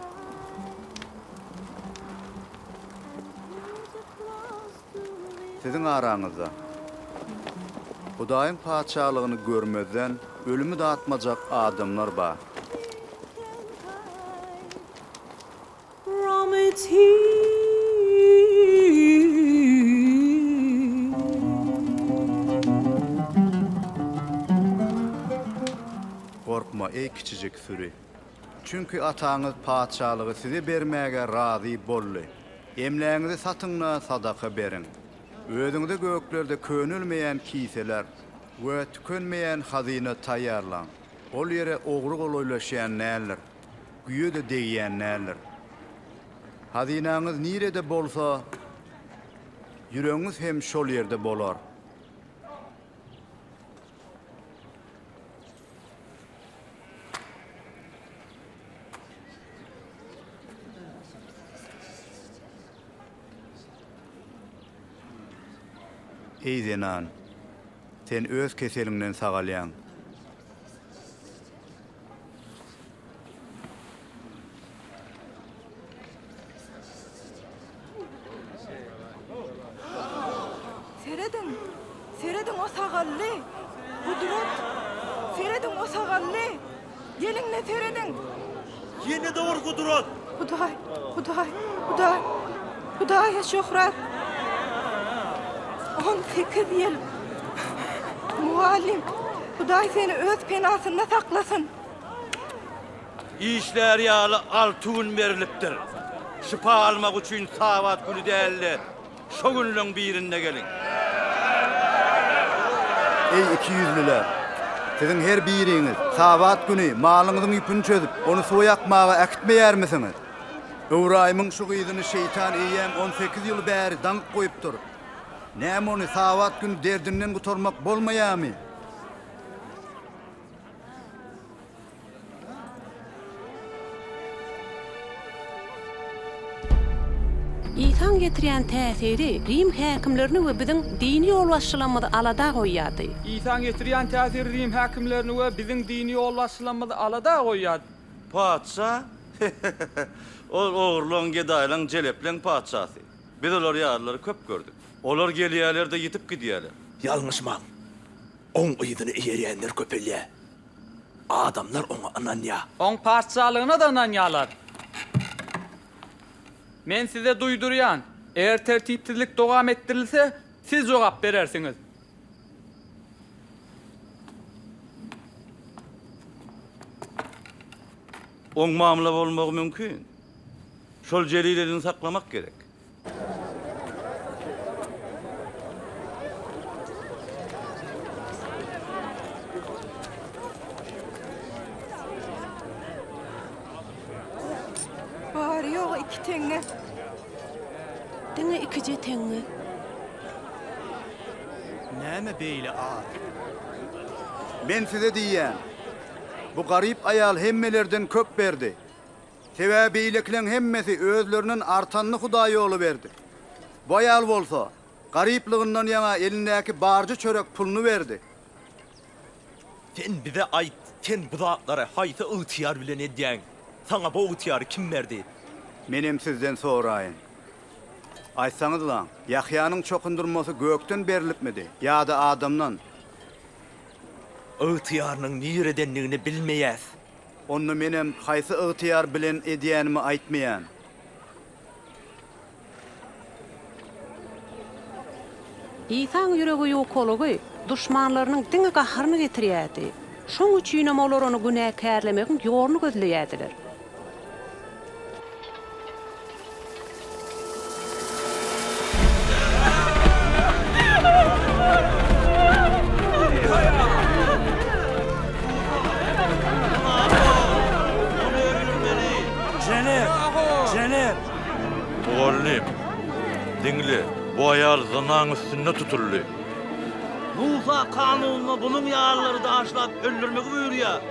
Siziň araňyzda Hudaýyň Patyşalygyny görmezden ölümi datmajak adamlar bar. Gorkma, eý kiçijik süri! Çünki ataňyz patyşalygy size bermäge razy boldy. Emlägiňizi satyň-da, sadaka beriň. Özüňize göklerde könelmeýän kiseler we tükenmeýän hazyna taýýarlaň. Ol ýere ogry golaýlaşýan däldir, güýe-de degýän däldir. Hazynaňyz nirede bolsa, ýüregiňiz hem şol ýerde bolar. Eý zenan, sen öz keseliňden sagalýaň. Serediň! Serediň o sagally! Gudrat! Serediň o sagally! Geliň-le serediň! Ýene-de ur, Gudrat! Hudaý, Hudaý, Hudaý, Hudaýa şöhrat. 18 ýyl. Mugallym, Hudaý seni öz penasynda saklasyn. Işler ýaly alty gün berilipdir. Şypa almak üçin sabat güni dälde. şo günleň birinde geliň. Eý, ikiýüzlüler! Siziň her biriňiz Sabat güni malyňyzyň ýüpüni çözüp, ony suwa ýakmaga äkitmeýärmisiňiz? Ybraýymyň şu gyzyny şeýtan eýýäm on sekiz ýyl bäri daňyp goýupdyr. Näme ony Sabat güni derdinden gutarmak bolmaýarmy? Isaň getirýän täsiri Rim häkimlerini we biziň dini ýolbaşçylarymyzy alada goýýardy. Isaň getirýän täsiri Rim häkimlerini we biziň dini ýolbaşçylarymyzy alada goýýardy. Patyşa, He-he-he-he! Ol ogurlaň, gedaýlaň, jelepleň patyşasy. Biz olar ýalylary köp gördük. Olar gelýärler-de ýitip gidýärler. Ýalňyşmaň! Oň yzyny eýerýänler köpelýär. Adamlar oňa ynanýar. Oň patyşalygyna-da ynanýarlar. Men size duýdurýan, eger tertipsizlik dowam etdirilse, siz jogap berersiňiz. Oň mamla bolmagy mümkin. Şol jelilelini saklamak gerek. teňňe. Diňe ikije teňňe. Näme beýle az? Men size diýýän. Bu garyp aýal hemmelerden köp berdi. Sebäbi beýlekileň hemmesi özlerinden artanyny Hudaý ýola berdi. Bu aýal bolsa, garyplygyndan ýaňa elindäki barja çörek puluny berdi. Sen bize aýt, sen bu zatlary haýsy ygtyýar bilen edýäň? Saňa bu ygtyýary kim berdi? Menem sizden soraýyn. Aýtsaňyzlaň, Ýahýanyň çokundyrmasy gökden berlipmidi ýa-da adamdan? Ygtyýarynyň niredendigini bilmeýäs. Onda menem haýsy ygtyýar bilen edýänimi aýtmaýan. Isaň ýüregi ýukalygy duşmanlarynyň diňe gaharyny getirýärdi. Şoň üçinem olar ony günäkärlemegiň ýoluny gözleýärdiler. Mugallym, diňle, bu aýal zynaň üstünde tutuldy. Musa kanunyna bunuň ýalylary daşlap öldürmegi buýurýar.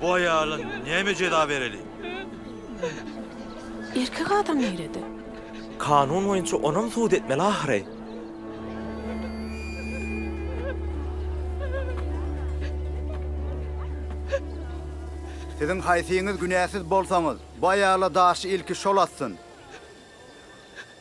Bu aýala näme jeza bereli? Erkek adam nirede? Kanun boýunça onam sud etmeli ahyry. Siziň haýsyňyz günäsiz bolsaňyz, bu aýala daşy ilki şol atsyn.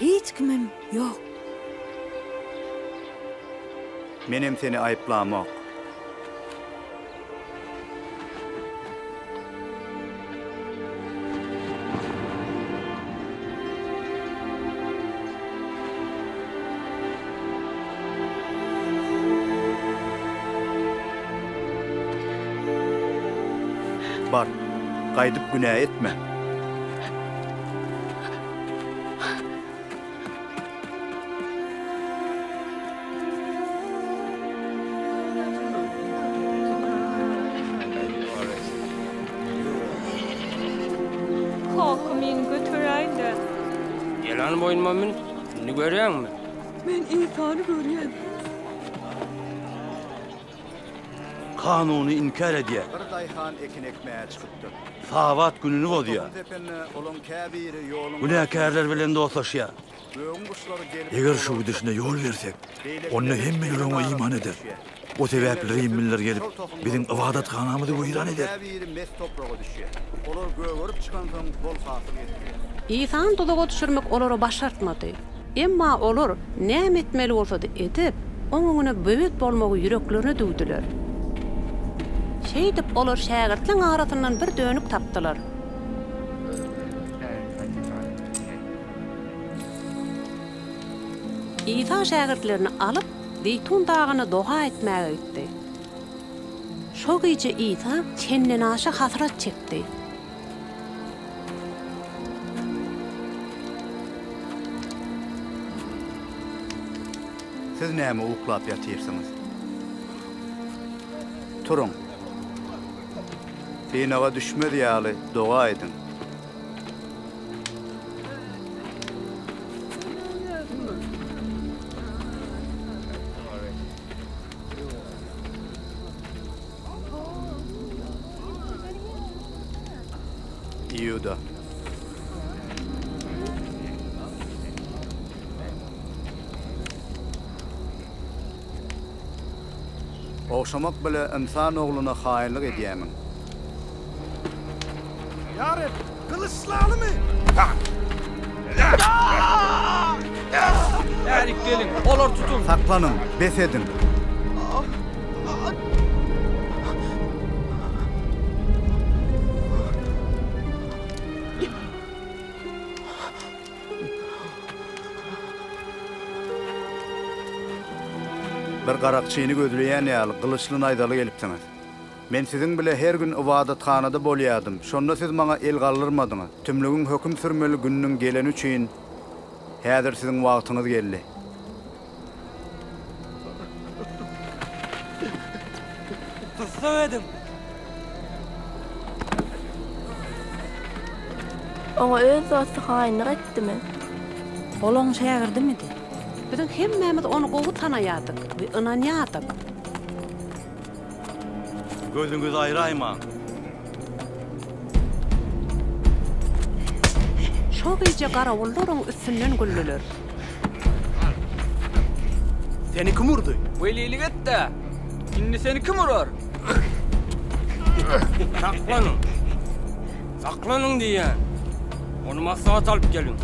Hiç kimim ýok. Menem seni aýyplamok. Bar, gaýdyp günä etme. Kaka, meni göteräýiň-de. Ýylan boýnuma mün. Indi görýäňmi? Men Isany görýän. Kanuny inkär edýär. Bir daýhan ekin ekmäge çykypdyr. Sabat gününi bozýar. Topuň tepende olaň käbiri ýoluň gyrasynda. Günäkärler bilen dostlaşýar. Gögüň guşlary gelip. Eger şu gidişine ýol bersek, onda hemme ýüre oňa iman eder. O sebäpli rimliler gelip, biziň ybadathanamyzy weýran eder. Olaryň käbiri mes topraga düşýär. Olar gögerip çykansoň, bol hasyl getirýär. Isany tuzaga düşürmek olara başartmady. Emma olar näme etmeli bolsa-da edip, Oň öňüne böwet bolmagy ýüreklerine düwdüler. Şeýdip, olar şägirtleň arasyndan bir dönük tapdylar. Isa şägirtlerini alyp, Zeýtun dagyna doga etmäge gitdi. Şo gije Isa çendenaşa hasrat çekdi. Siz näme uklap ýatyrsyňyz? Turuň. Synaga düşmez ýaly doga ediň. Iuda. Ogşamak bile ynsan ogluna haýynlyk edýämiň? Yarep, kılıçlalymy? Erik gelin, olar tutun. Saklanın, bes edin. Bir garakçyny gözleýän ýaly gylyçly naýzaly gelipsiňiz. Men siziň bile her gün ybadathanada bolýardym, şonda siz maňa el galdyrmadyňyz. Tümlügiň höküm sürmeli gününiň geleni üçin, häzir siziň wagtyňyz geldi. Tussag ediň! Oňa öz dosty haýynlyk etdimi? Ol oň şägirdimidi? Biziň hemmämiz ony gowy tanaýardyk we ynanýardyk. Gözüňizi aýraýmaň. Şo gije garawullaryň üstünden güldiler. Seni kim urdy? Welilik et-de, indi seni kim urar? Saklanyň! Saklanyň diýýän! Ony maslahat alyp geliň.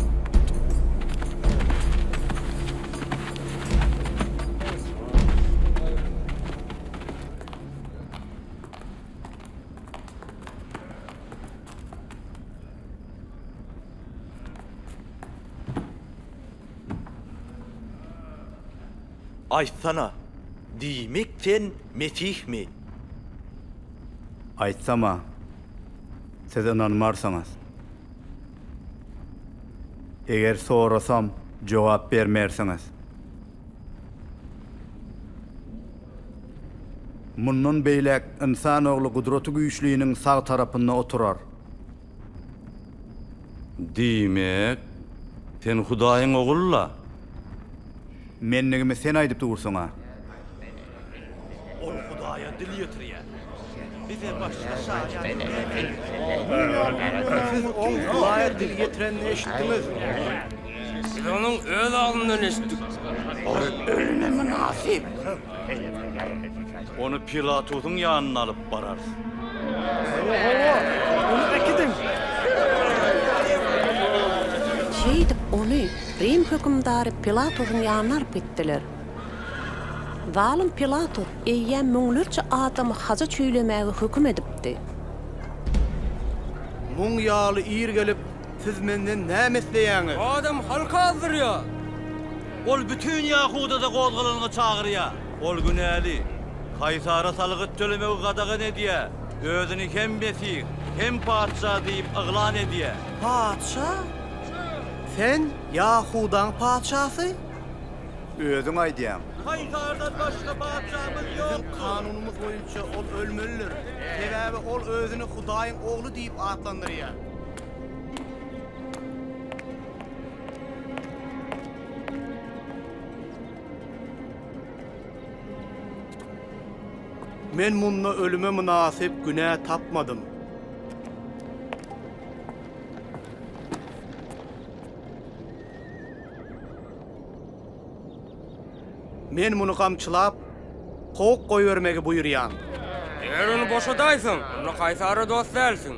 Aýtsana, diýmek sen Mesihmi? Aýtsam-a, siz ynanmarsyňyz. Eger sorasam jogap bermersiňiz. Mundan beýläk ynsan ogly Gudraty Güýçliniň sag tarapynda oturar. Diýmek, sen Hudaýyň Ogly-la? Mendigimi sen aýdyp dursuň-a. Ol Hudaýa dil ýetirýär. Bize başga şaýat näme? Siz oň Hudaýa dil ýetirenini eşitdiňiz. Biz onuň öz alnyndan eşitdik. Ol ölüme mynasyp. Ony Pilatusyň ýanyna alyp bararys. Hawa-hawa, ony äkidiň! Şeýdip, ony Rim hökümdary Pilatusyň ýanyna alyp gitdiler. Zalym Pilatus eýýäm müňlerçe adamy haja çüýlemäge höküm edipdi. Muň ýaly ir gelip, siz menden näme isleýäňiz? Bu adam halky azdyrýar. Ol bütin Ýahudada gozgalalygy çagyrýar. Ol günäli. Kaýsara salgyt tölemegi gadagan edýär, özüni hem Mesih, hem Patyşa diýip yglan edýär. Patyşa? Sen Ýahudaň patyşasy? Özüň aýdýaň. Kaýsardan başga patyşamyz ýokdur. Biziň kanunymyz boýunça ol ölmelidir. Sebäbi ol özüni Hudaýyň Ogly diýip atlandyrýar. Men munda ölüme mynasyp günä tapmadym. Men muny gamçylap, kowup goýbermegi buýurýan. Eger ony boşadaýsaň, onda Kaýsara dost dälsiň.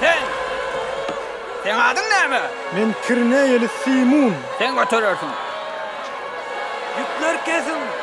Sen. Seň adyň näme? Men kirneýeli Simun. Sen göterersiň. Ýüpleri kesiň!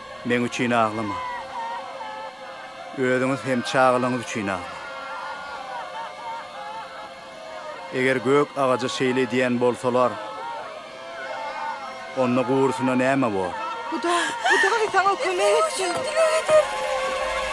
Meň üçin aglamaň. Özüňiz hem çagalaryňyz üçin aglaň. Eger gök agaja şeýle edýän bolsalar, onda gurusyna näme bor? Hudaý, Hudaý saňa kömek etsin!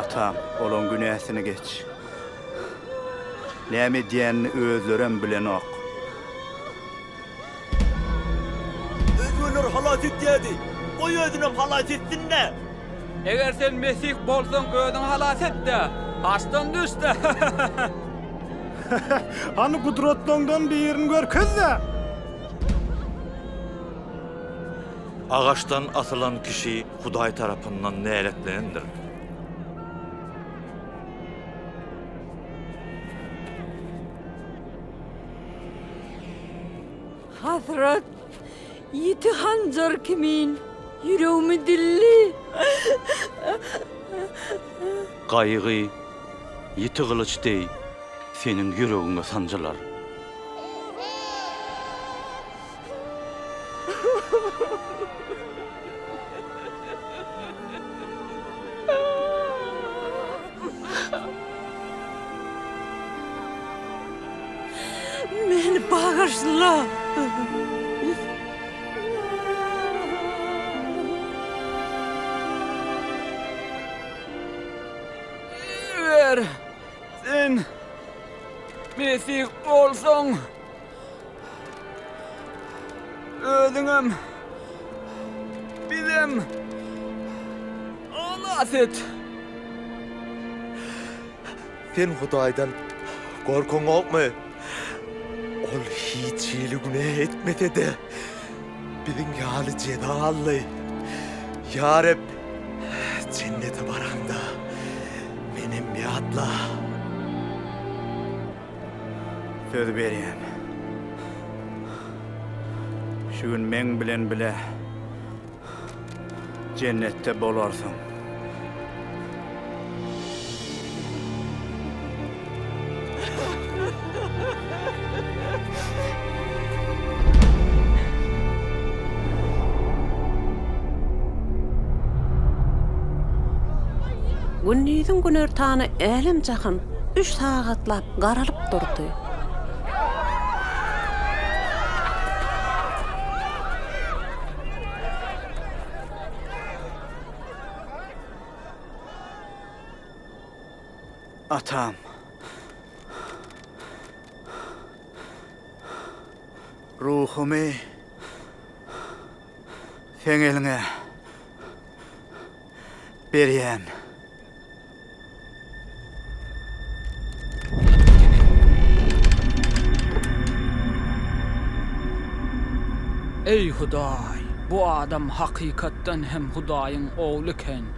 Atam, olaň günäsini geç. Näme edýänini özlerem bilenok. Özi olar halas etýärdi. Goý özünem halas etsin-dä! Eger sen Mesih bolsaň, özüňi halas et-de, haçdan düş-de! Hany gudratlaňdan birini görkez-de! Agaçdan asylan kişi Hudaý tarapyndan näletlenendir. Hasrat ýiti hanjar kimin ýüregimi dildi. Gaýgy ýiti gylyç deý seniň ýüregiňe sanjylar. Meni bagyşla! Eger sen Mesih bolsaň, Özüňem, bizem halas et. Sen Hudaýdan gorkaňokmy? Ol hiç hili günä etmese-de, biziň ýaly jeza aldy. Ýa Reb, jennete baraňda, menem ýatla. Söz berýän. Şu gün meň bilen bile jennetde bolarsyň. Gündiziň günortany älem-jahan üç sagatlap garalyp durdy. Atam. Ruhumy Seň eliňe berýän. Eý Hudaý, bu adam hakykatdan hem Hudaýyň ogly eken.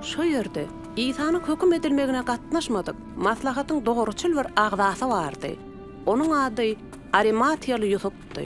Şo ýerde Isanyň höküm edilmegine gatnaşmadyk maslahatyň dogruçyl bir agzasy bardy. Onuň ady Arimatiýaly Ýusupdy.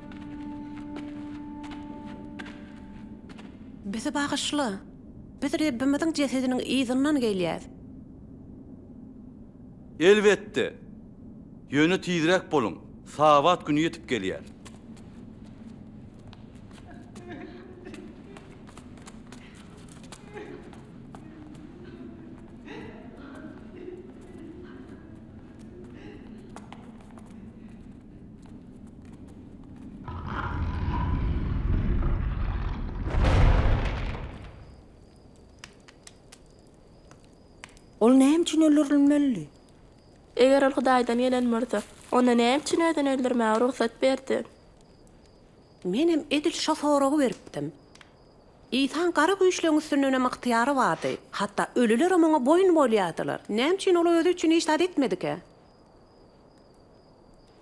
Bizi bagyşla! Biz Rebbimiziň jesediniň yzyndan gelýäs. Elbetde! Ýöne tizräk boluň, Sabat güni ýetip gelýär. Ol näme üçin öldürilmeli? Eger ol Hudaýdan gelen bolsa, onda näme üçin özüni öldürmäge rugsat berdi? Men hem edil şo soragy beripdim. Isaň gara güýçleň üstünden hem ygtyýary bardy. Hatda ölüler hem oňa boýun bolýardylar. Näme üçin ol özi üçin hiç zat etmedikä?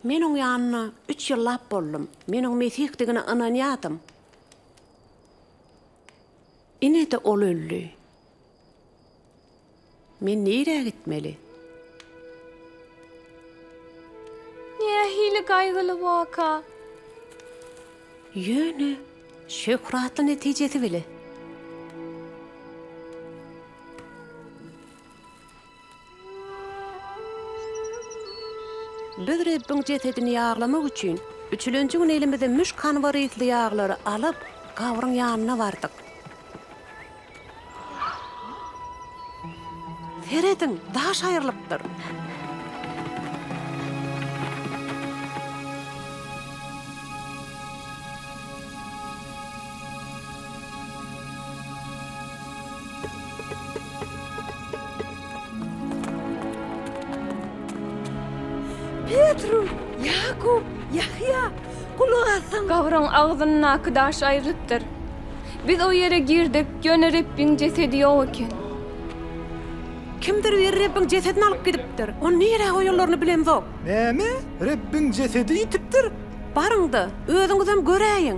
Men oň ýanynda üç ýyllap boldum. Men oň Mesihdigine ynanýardym. Ine-de ol öldi. Men nirä gitmeli? Nähili gaýgyly waka! Ýöne şöhratly netijesi bile. Biz Rebbiň jesedini ýaglamak üçin, üçülenji gün elimize müşk hanbar ysly ýaglary alyp, gabryň ýanyna bardyk. Serediň, daş aýrylypdyr! Petru, Ýakup, Ýahýa, gulak asyň! Gabryň agzyndaky daş aýrylypdyr. Biz o ýere girdik, ýöne Rebbiň jesedi ýok eken. Kimdir biri Rebbiň jesedini alyp gidipdir. Ony nirä goýanlaryny bilemzok. Näme? Rebbiň jesedi ýitipdir? Baryň-da, özüňizem göräýiň!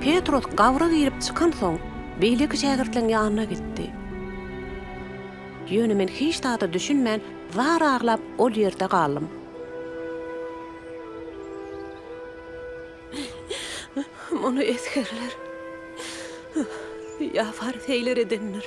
Petros gabra girip çykansoň, beýleki şägirtleriň ýanyna gitdi. Ýöne men hiç zada düşünmän, zar aglap, ol ýerde galdym. Muny esgerler ýa fariseýler edendir?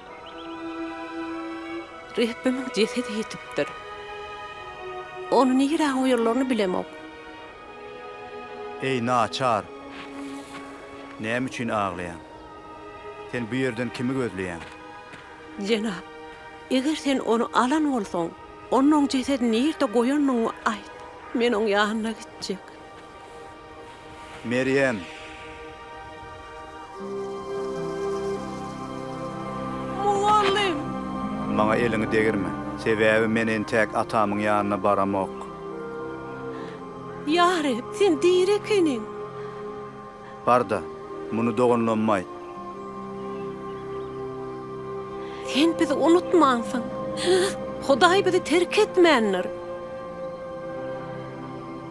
Rebbimiň jesedi ýitipdir. Ony nirä goýarlaryny bilemok. Eý, naçar! Näme üçin aglaýaň? Sen bu ýerden kimi gözleýäň? Jenap, eger sen ony alan bolsaň, onda oň jesedini nirde goýanyňy aýt. Men oň ýanyna gitjek. Merýem. Mugallym. Maňa eliňi degirme. Sebäbi men entäk atamyň ýanyna baramok. Ýa Reb, Sen diri ekeniň! Bar-da, muny doganlaryma aýt. Sen bizi unutmansyň. Hudaý bizi terk etmändir.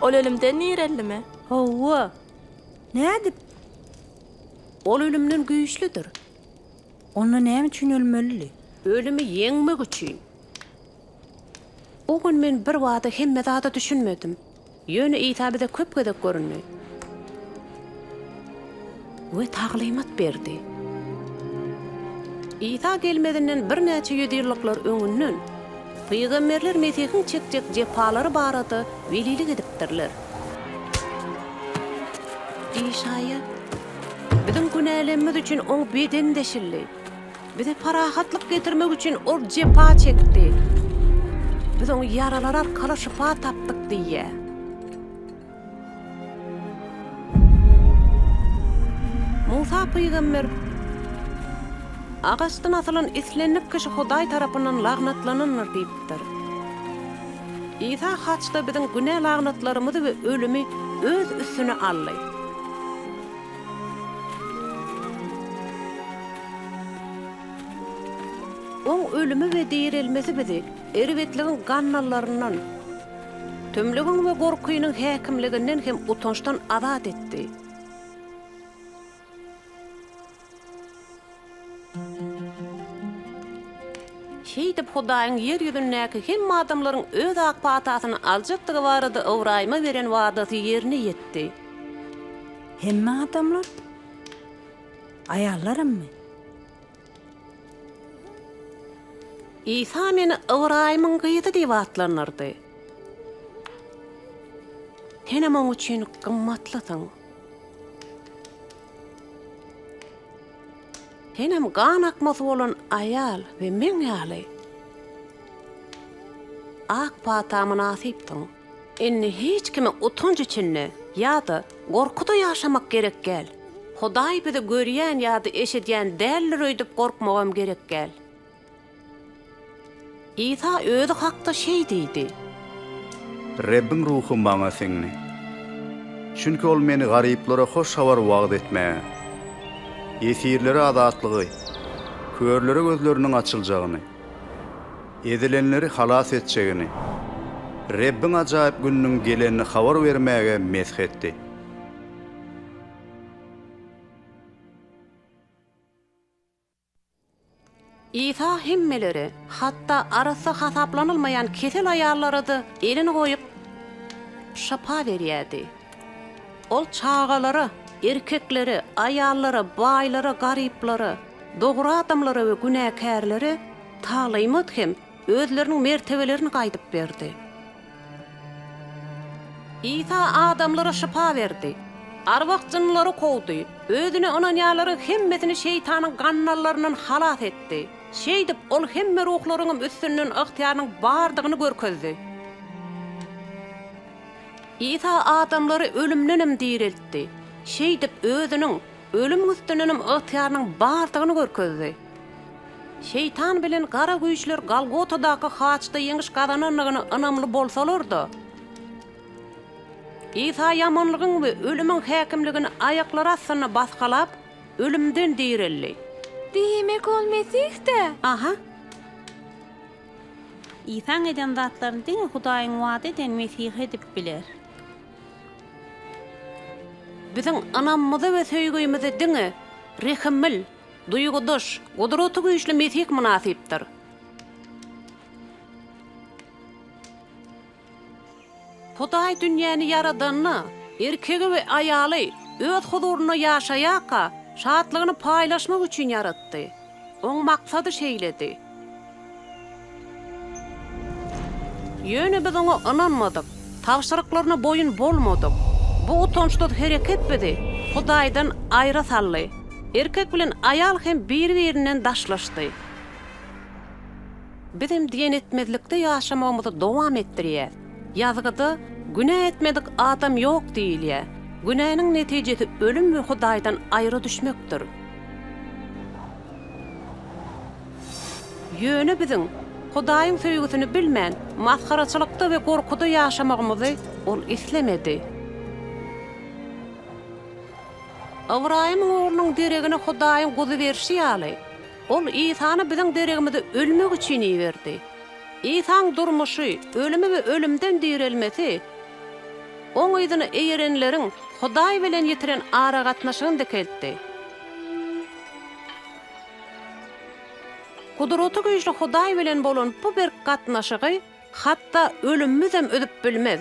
Ol ölümden nirellimi? Hawa. Nädip? Ol ölümden güýçlüdir. Onda näme üçin ölmelidi? Ölümi ýeňmek üçin. O gün men birbada hemme zada düşünmedim. Ýöne Isa bize köp gezek göründi. we taglymat berdi. Isa gelmezinden birnäçe ýüzýyllyklar öňünden, pygamberler Mesihiň çekjek jepalary barada welilik edipdirler. Işaýa, Biziň günälerimiz üçin Oň bedeni deşildi. Bize parahatlyk getirmek üçin Ol jepa çekdi. Biz Oň ýaralary arkaly şypa tapdyk diýýär. Musa pygamber agaçdan asylan islendik kişi Hudaý tarapyndan lagnatlanandyr diýipdir. Isa haçda biziň günä lagnatlarymyzy we ölümi öz üstüne aldy. Oň ölümi we direlmesi bizi Erbetligiň gannallarynyň, tümlügiň we gorkynyň häkimliginden hem utançdan azat etdi. Şeýdip, Hudaýyň ýer ýüzündäki hemme adamlaryň öz ak patasyny aljakdygy barada Ybraýyma beren wadasy ýerine ýetdi. Hemme adamlar? Aýallaramy? Isa meni Ybraýymyň gyzy diýip atlandyrdy. Senem oň üçin gymmatlysyň. Senem gan akmasy bolan aýal we meň ýaly ak pata mynasypdyň. Indi hiç kime utanç içinde ýa-da gorkuda ýaşamak gerek däl. Hudaý bizi görýän ýa-da eşidýän däldir öýdüp gorkmagam gerek däl. Isa özi hakda şeý diýdi. Rebbiň Ruhy maňa siňdi. Çünki Ol meni garyplara hoş habary wagyz etmäge, ýesirlere azatlygy, körlere gözleriniň açyljagyny, Ezilenleri halas etjegini, Rebbiň ajaýyp gününiň gelenini habar bermäge mesh etdi. Isa hemmelere, hatda arassa hasaplanylmaýan kesel aýallara-da elini goýup, şypa berýärdi. Ol çagalara, erkeklere, aýallara, baýlara, garyplara, dogry adamlara we günäkärlere Talaýmat hem özleriniň mertebelerini gaýdyp berdi. Isa adamlara şypa berdi. Arwah jynlary kowdy. Özüne ynanýanlaryň hemmesini şeýtanyň gandallaryndan halas etdi. Şeýdip, ol hemme ruhlaryňam üstünden ygtyýarynyň bardygyny görkezdi. Isa adamlary ölümdenem direltdi. Şeýdip, özüniň Ölüm üstünenem ygtyýarynyň bardygyny görkezdi. Şeýtan bilen gara güýçler Golgotadaky haçda ýeňiş gazanandygyna ynamly bolsalar-da, Isa ýamanlygyň we ölümiň häkimligini aýaklary astynda basgalap, ölümden direldi. Diýmek, ol Mesih-dä? Aha. Isaň eden zatlaryny diňe Hudaýyň wada eden Mesihi edip biler. Biziň ynamymyzy we söýgümize diňe rehimil, duýgudaş, gudraty güýçli Mesih mynasypdyr. Hudaý dünýäni ýaradanda, erkegi we aýaly Öz huzurynda ýaşaýarka, şatlygyny paýlaşmak üçin ýaratdy. Oň maksady şeýledi. Ýöne biz oňa ynanmadyk, tabşyryklaryna boýun bolmadyk. Bu utançsyz hereket bizi Hudaýdan aýra saldy. Erkek bilen aýal hem biri-birinden daşlaşdy. Bizem diýen etmezlikde ýaşamagymyzy dowam etdirýäs. Ýazgyda Günä etmedik adam ýok diýilýär. Günäniň netijesi ölüm we Hudaýdan aýra düşmekdir. Ýöne biziň Hudaýyň söýgüsini bilmän, masgaraçylykda we gorkuda ýaşamagymyzy Ol islemedi. Ybraýymyň oglunyň deregine Hudaýyň guzy berşi ýaly, Ol Isany biziň deregimize ölmek üçin iberdi. Isaň durmuşy, ölümi we ölümden direlmesi Oň yzyna eýerenleriň Hudaý bilen ýitiren aragatnaşygyny dikeltdi. Gudraty güýçli Hudaý bilen bolan bu berk gatnaşygy Hatda ölümimizem üzüp bilmez.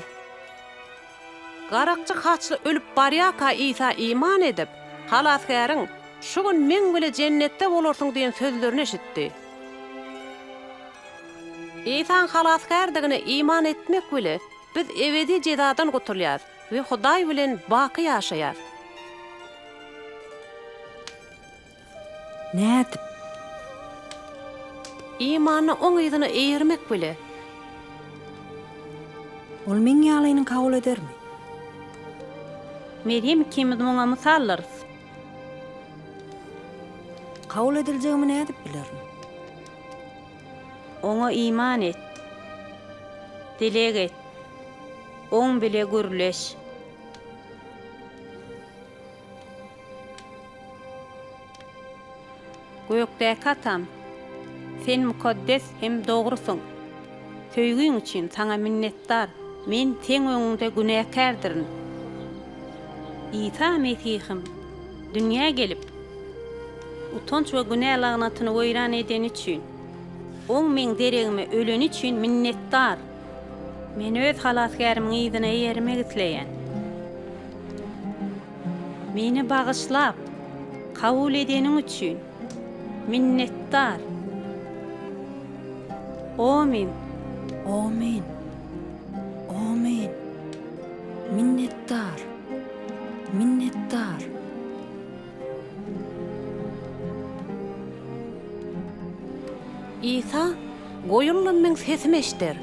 Garakçy haçly ölüp barýarka Isa iman edip, Halasgäriň, Şu gün meň bile Jennetde bolarsyň diýen sözlerini eşitdi. Isaň Halasgärdigine iman etmek bile biz ebedi jezadan gutulýas we Hudaý bilen baky ýaşaýas. Nädip? Imanyny oň yzyna eýermek bile. Ol meň ýalyny kabul edermi? Merýem ikimiz muňa mysallarys. Kabul ediljegimi nädip bilerin? Oňa iman et. Dileg et. Oň bile gürleş. Gökdäki Atam, Sen mukaddes hem dogrusyň. Söýgiň üçin Saňa minnetdar. Men Seň öňüňde günäkärdirin. Isa Mesihim, dünýä gelip, utanç we günä lagnatyny weýran edeni üçin, Oň meň deregime öleni üçin minnetdar. Men Öz Halasgärimiň yzyna eýermek isleýän. Meni bagyşlap, kabul edeniň üçin minnetdar. Omyn! Omyn! Omyn! Minnetdar! Minnetdar! Isa, Goýunlarym meň sesimi eşder.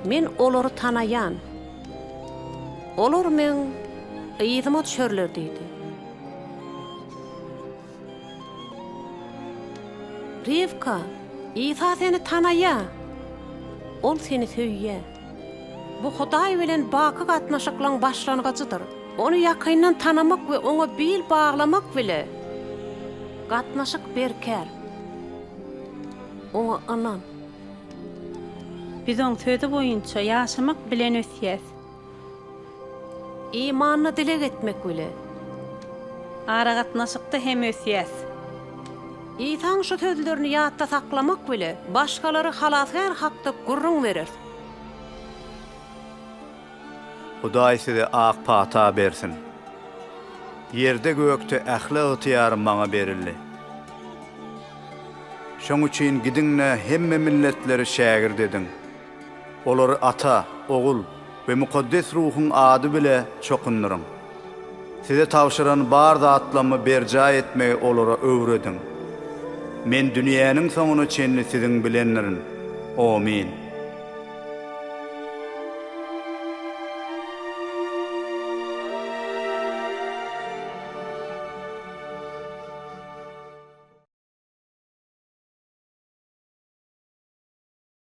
Men olary tanaýan. Olar meň yzyma düşerler diýdi. Rywka, Isa seni tanaýar. Ol seni söýýär. Bu Hudaý bilen baky gatnaşyklaryň başlangyjydyr. Ony ýakyndan tanamak we Oňa bil baglamak bile gatnaşyk berkär. Oňa ynan. Biz Oň Sözi boýunça ýaşamak bilen ösýäs. Imanly dileg etmek bile. Aragatnaşykda hem ösýäs. Isaň şu sözlerini ýatda saklamak bile başgalara Halasgär hakda gürrüň bereris. Hudaý size ak pata bersin. Ýerde-gökde ähli ygtyýar maňa berildi. Şoň üçin gidiň-de hemme milletleri şägirt ediň. Olary Ata, Ogul we Mukaddes Ruhuň ady bile çokundyryň. Size tabşyran bar zatlamy berjaý etmegi olara öwrediň. Men dünýäniň soňuna çenli siziň bilendirin. Omin.